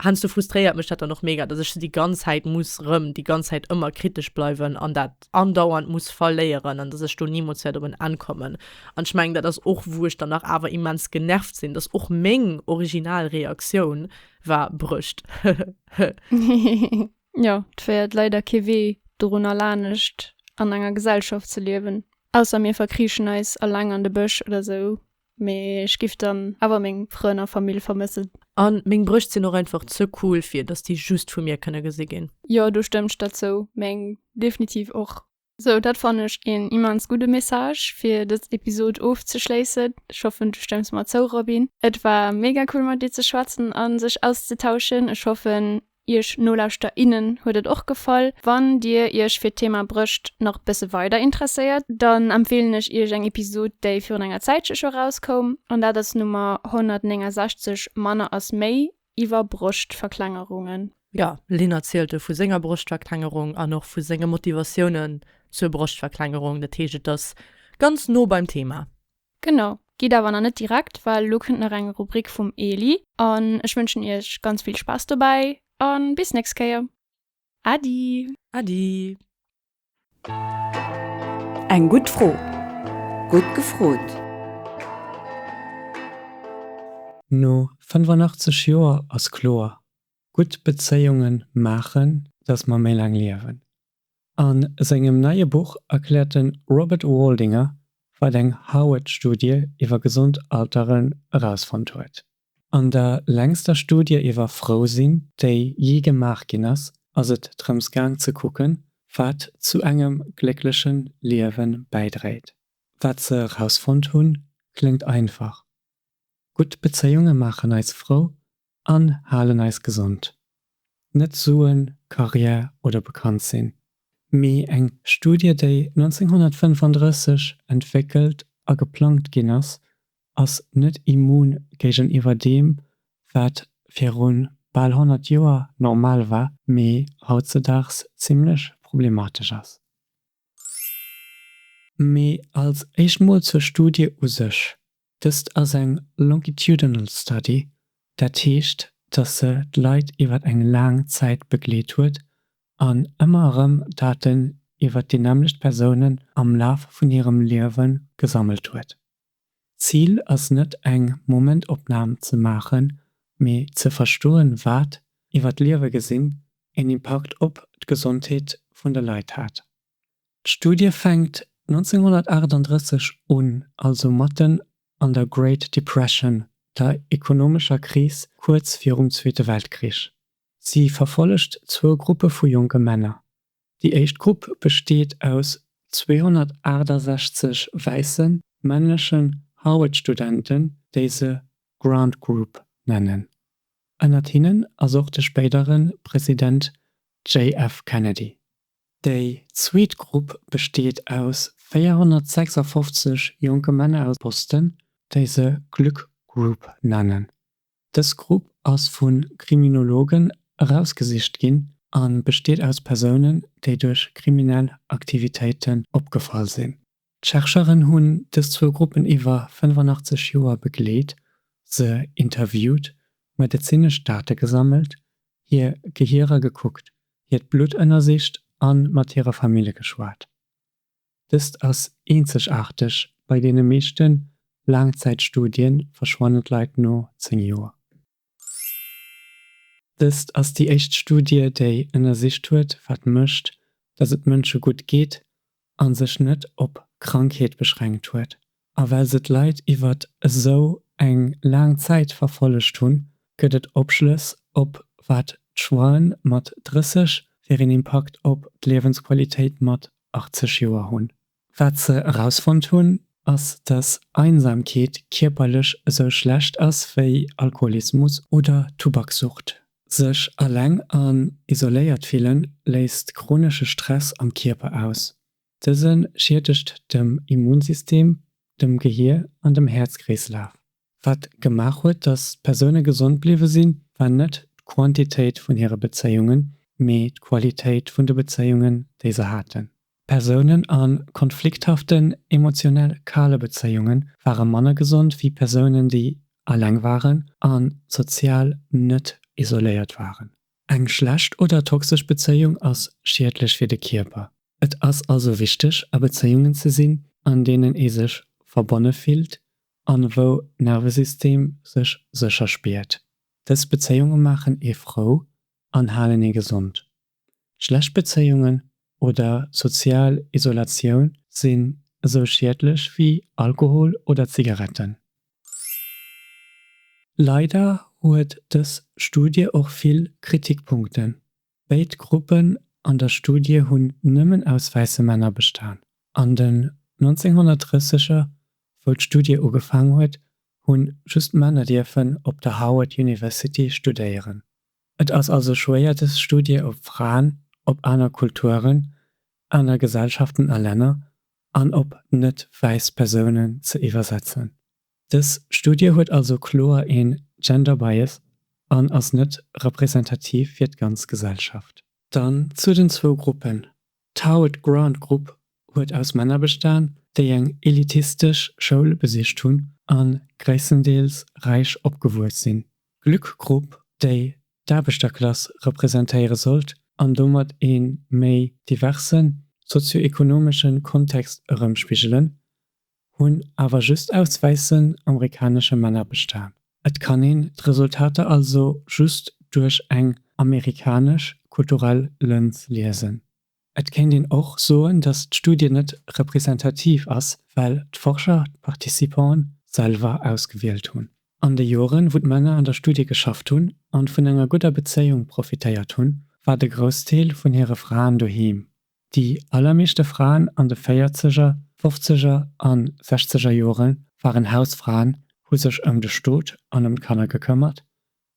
Heiansdo frustréiert mech dat dann och mega, dass ech se déi ganz Zäit muss rëm, déi ganz Zäit ëmmer kritesch bleiwen an dat andauernd muss verléieren an dass ech do nimools wäert op en Enn kommen. An ech mengen, dat ass och, wou ech dann nach awer immens genervt sinn, dass och meng original Reaktioun war, Brëscht, hehehehe.
Jo, et féiert leider kee Wee dorunner, lanescht an enger Gesellschaft ze liewen, ausser mir verkriichen eis eleng an de Bësch oder sou, Mee ech giff dann awer meng Frënn a Famill vermëssen. An meng Brëscht
sinn och einfach ze cool fir dass déi just vu mir kënne gesi ginn. Jo do stëmm ech der
zou, meng definitiv och. Sou dat fannen ech een immens gudde Message fir dës Episode ofzeschléissen. Ech hoffen du stëmms mer zou Robin. Et war mega cool mat dir ze schwätzen an sech auszetauschen. Ech hoffen Iech Nolauschter innen huet et och gefall. Wann Dir Iech fir d'Thema Brëscht nach bësse weider interesséiert, dann empfeelen ech Iech eng Episod déi virun enger Zäitche scho rauskoum, an dat ass d'Nummer 169, Manner ass méi, iwwer Broschtverklengerungen. Jo, Lynn
erzielt do vu senger Broschtverklengerung an och vu senge Motivatiounen zur Broschtverklengerung. Dat heescht et ass ganz no beim Thema. Genau,
geet awer nach net direkt, well elo kënnt nach eng Rubrik vum Eli an ech wënschen iech ganz vill Spaass dobäi a bis nächst Kéier. Äddi! Äddi!
Eng gutt Fro, gutt gefrot!
No 85 Joer ass kloer, gutt Bezéiunge maachen, datt mer méi laang liewen. A sengem neie Buch erkläert de Robert Waldinger, wat eng Harvard-Studie iwwer gesond Alteren erausfonnt huet. An der längster Studie iwwer Frousinn, déi jee gemaach ginn ass, ass et drëms gaang ze kucken, wat zu engem gléckleche Liewe bäidréit. Wat se erausfonnt hunn, kléngt einfach, Gutt Bezéiunge maachen eis frou an halen eis gesond. Net Suen, Carrière oder bekannt sinn, mee eng Studie déi 1935 entwéckelt a geplangt ginn ass, ass net immun géigeniwwer deem wat virun bal 100 Joer normal war, mee hautzedaags zimmlech problematesch ass. Mee als éischt mol zur Studie u sech. Dëst ass eng longitudinal study, dat heescht, datt se d'Leit iwwer eng laang Zäit begleet huet an ëmmer erëm Daten iwwer déi nämmlecht Persounen am Laf vun hirem Liewe gesammelt huet. D'Zil ass net eng Momentopnam ze maachen, mee ze verstoen, wat, iwwer d'Liewe gesinn, een Impakt op d'Gesondheet vun de Leit hat. D'Studie fänkt 1938 un, also matten an der Great Depression, der ekonomescher Kris kuerz virum Zweete Weltkrich. Si verfollegt zwou Gruppe vu jonke Männer. Déi éischt Grupp besteet aus 268 wäisse männlechen Harvard-Studenten, déi se Grant Group nennen. Ënnert hinnen ass och de spéidere President JF. Kennedy. Déi zweet Grupp besteet aus 456 jonke Männer aus Boston, déi se Glück Group nennen. Dës Grupp ass vu Kriminologen erausgesicht ginn a besteet aus Persounen, déi duerch kriminell Aktivitéiten opgefall sinn. D'Chercheuren hunn dës zwou Gruppen iwwer 85 Joer begleet, se interviewt, medezinesch Date gesammelt, hir Gehirer gekuckt, hiert Blutt ënnersicht a mat hire Famille geschwat. Dëst ass eenzegaarteg, bei deene meeschte Laangzäitstudie verschwannen d'Leit no 10 Joer. Dëst ass déi éischt Studie, déi ënnersicht huet, wat mécht, datt et Mënsche gutt geet, a sech net op Krankheet beschränkt huet. A well se d'Leit iwwer esou eng laang Zäit verfollegt hunn, gëtt et Opschlëss op wat d'Schwaen mat 30 fir een Impakt op d'Liewensqualitéit mat 80 Joer hunn. Wat se erausfonnt hunn, ass, dass Einsamkeet kierperlech esou schlecht ass wéi Alkoholismus oder Tubakssucht. Sech eleng an isoléiert fille léist chronesche Stress am Kierper aus. Dëse schiedegt dem Immunsystem, dem Gehier an dem Häerzkreeslaf. Wat gemaach huet, datt d'Persoune gesond bliwwe sinn, war net d'Quantitéit vun hire Bezéiungen, mee d'Qualitéit vun de Bezéiungen, déi se haten. Persounen a konflikthaften, emotionell kale Bezéiunge ware manner gesond wéi Persounen, déi aleng waren a sozial net isoléiert waren. Eng schlecht oder toxesch Bezéiung ass schiedlech fir de Kierper. Et ass also wichteg, a Bezéiungen ze sinn, an deenen ee sech verbonne fillt an wou d'Nervesystem sech sécher spiert. Dës Bezéiunge maachen ee frou an halen ee gesond. Schlecht Bezéiungen oder sozial Isolatioun sinn esou schiedlech wéi Alkohol oder Zigaretten. Leider huet dës Studie och vill Kritikpunkten. Béid Gruppen an der Studie hunn nëmmen aus wäisse Männer bestan. An den 1930er, wou d'Studie ugefaang huet, hunn just Männer dierfen op der Harvard University studéieren. Et ass also schwéier dës Studie op Fraen, op aner Kulturen, aner Gesellschaften a Länner an op net wäiss Persounen ze iwwersetzen. Dës Studie huet also kloer ee Gender Bias an ass net representativ fir d'ganz Gesellschaft. Dann zu den zwou Gruppen. D'Howard Grant Grupp huet aus Männer bestan, déi eng elitistesch Schoul besicht hunn a gréisstendeels räich opgewuess sinn. D'Glück Grupp, déi d'Aarbechterklass representéiere sollt an domat ee méi diverse sozio-ekonomesche Kontext erëmspigelen, hunn awer just aus wäissen amerikanesche Männer bestan. Et kann een d'Resultater also just duerch eng amerikanesch kulturell Lëns liesen. Et kéint een och soen, datt d'Studie net representativ ass, well d'Forscher d'Participanten selwer ausgewielt hunn. An de Joren, wou d'Männer an der Studie geschafft hunn an vun enger gudder Bezéiung profitéiert hunn, war de Groussdeel vun hire Fraen doheem. Déi allermeeschte Fraen an de Véierzeger, Fofzeger a Sechzeger Jore waren Hausfraen, hu sech ëm de Stot an ëm d'Kanner gekëmmert,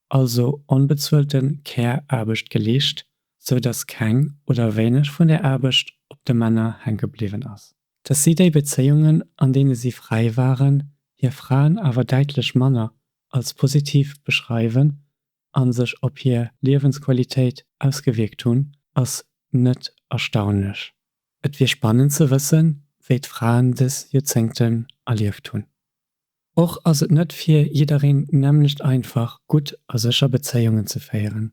also onbezuelte Care-Aarbecht geleescht, sou datt keng oder wéineg vun där Aarbecht op de Männer hänke bliwwen ass. Datt si déi Bezéiungen, an deene si fräi waren, hir Fraen awer däitlech manner als positiv beschreiwen, a sech op hir Liewensqualitéit ausgewierkt hunn, ass net erstaunlech. Et wier spannend ze wëssen, wéi d'Fraen dës Joerzéngten erlieft hunn. Och ass et net fir jiddereen d'nämmlecht einfach, gutt a sécher Bezéiungen ze féieren.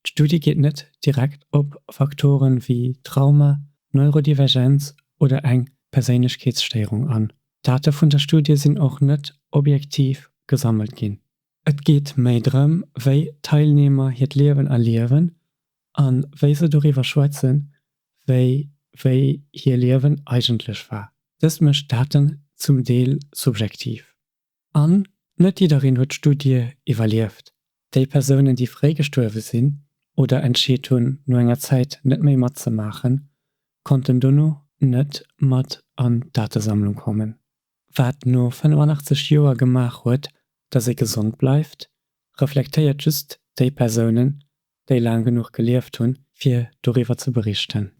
D'Studie geet net direkt op Faktore wéi Trauma, Neurodivergenz oder eng Perséinlechkeetsstéierung an. D'Date vun der Studie sinn och net objektiv gesammelt ginn. Et geet méi drëm, wéi d'Teilnehmer hiert Liewen erliewen a wéi se doriwwer schwätzen, wéi wéi hir Liewen eigentlech war. Dëst mécht d'Daten zum Deel subjektiv. An net jiddereen huet d'Studie iwwerlieft. Déi Persounen, déi fréi gestuerwe sinn oder entscheet hunn, no enger Zäit net méi matzemaachen, konnten dono net mat an d'Datesammlung kommen. wat no 85 Joer gemaach huet, datt ee gesond bleift, reflektéiert just déi Persounen, déi laang genuch gelieft hunn, fir doriwwer ze berichten.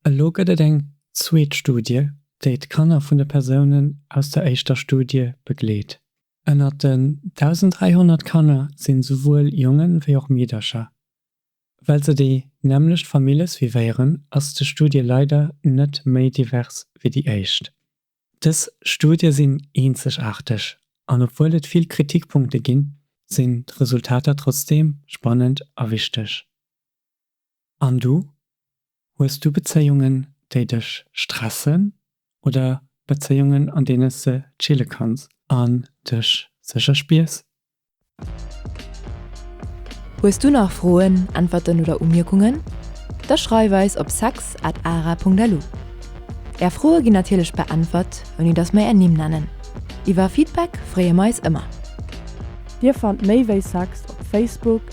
Elo gëtt et eng zweet Studie, déi d'Kanner vun de Persounen aus der éischter Studie begleet. Ënnert den 1.300 Kanner sinn souwuel Jongen, wéi och Meedercher. Well se déi nämmlecht Famille suivéieren, ass de Studie leider net méi divers wéi déi éischt. Dës Studie sinn eenzegaarteg an obwuel et vill Kritikpunkte ginn, sinn d'Resultater trotzdeem spannend a wichteg. An du? Hues du Bezéiungen, déi dech stressen oder Bezéiungen, an deene s de chille kanns an dech sécher spiers?
Hues du nach Froen, Äntwerten oder Umierkungen? Da schreif eis op sex at ara.lu. Är Froe ginn natierlech beäntwert, ouni dass mer är Nimm nennen. Iwwer Feedback freeë mer eis ëmmer. Dir
fannt méi wéi sex op Facebook,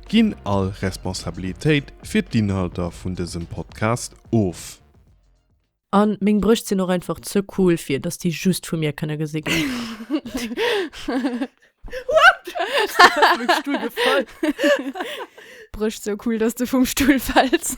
Ginn all Responsabilitéit fir d'Inhalter vun dësem Podcast of. An
meng Brëscht sinn och einfach ze cool fir dass déi just vu mir kënne gesi ginn.
Brëscht sou cool dass de vum Stull fäls.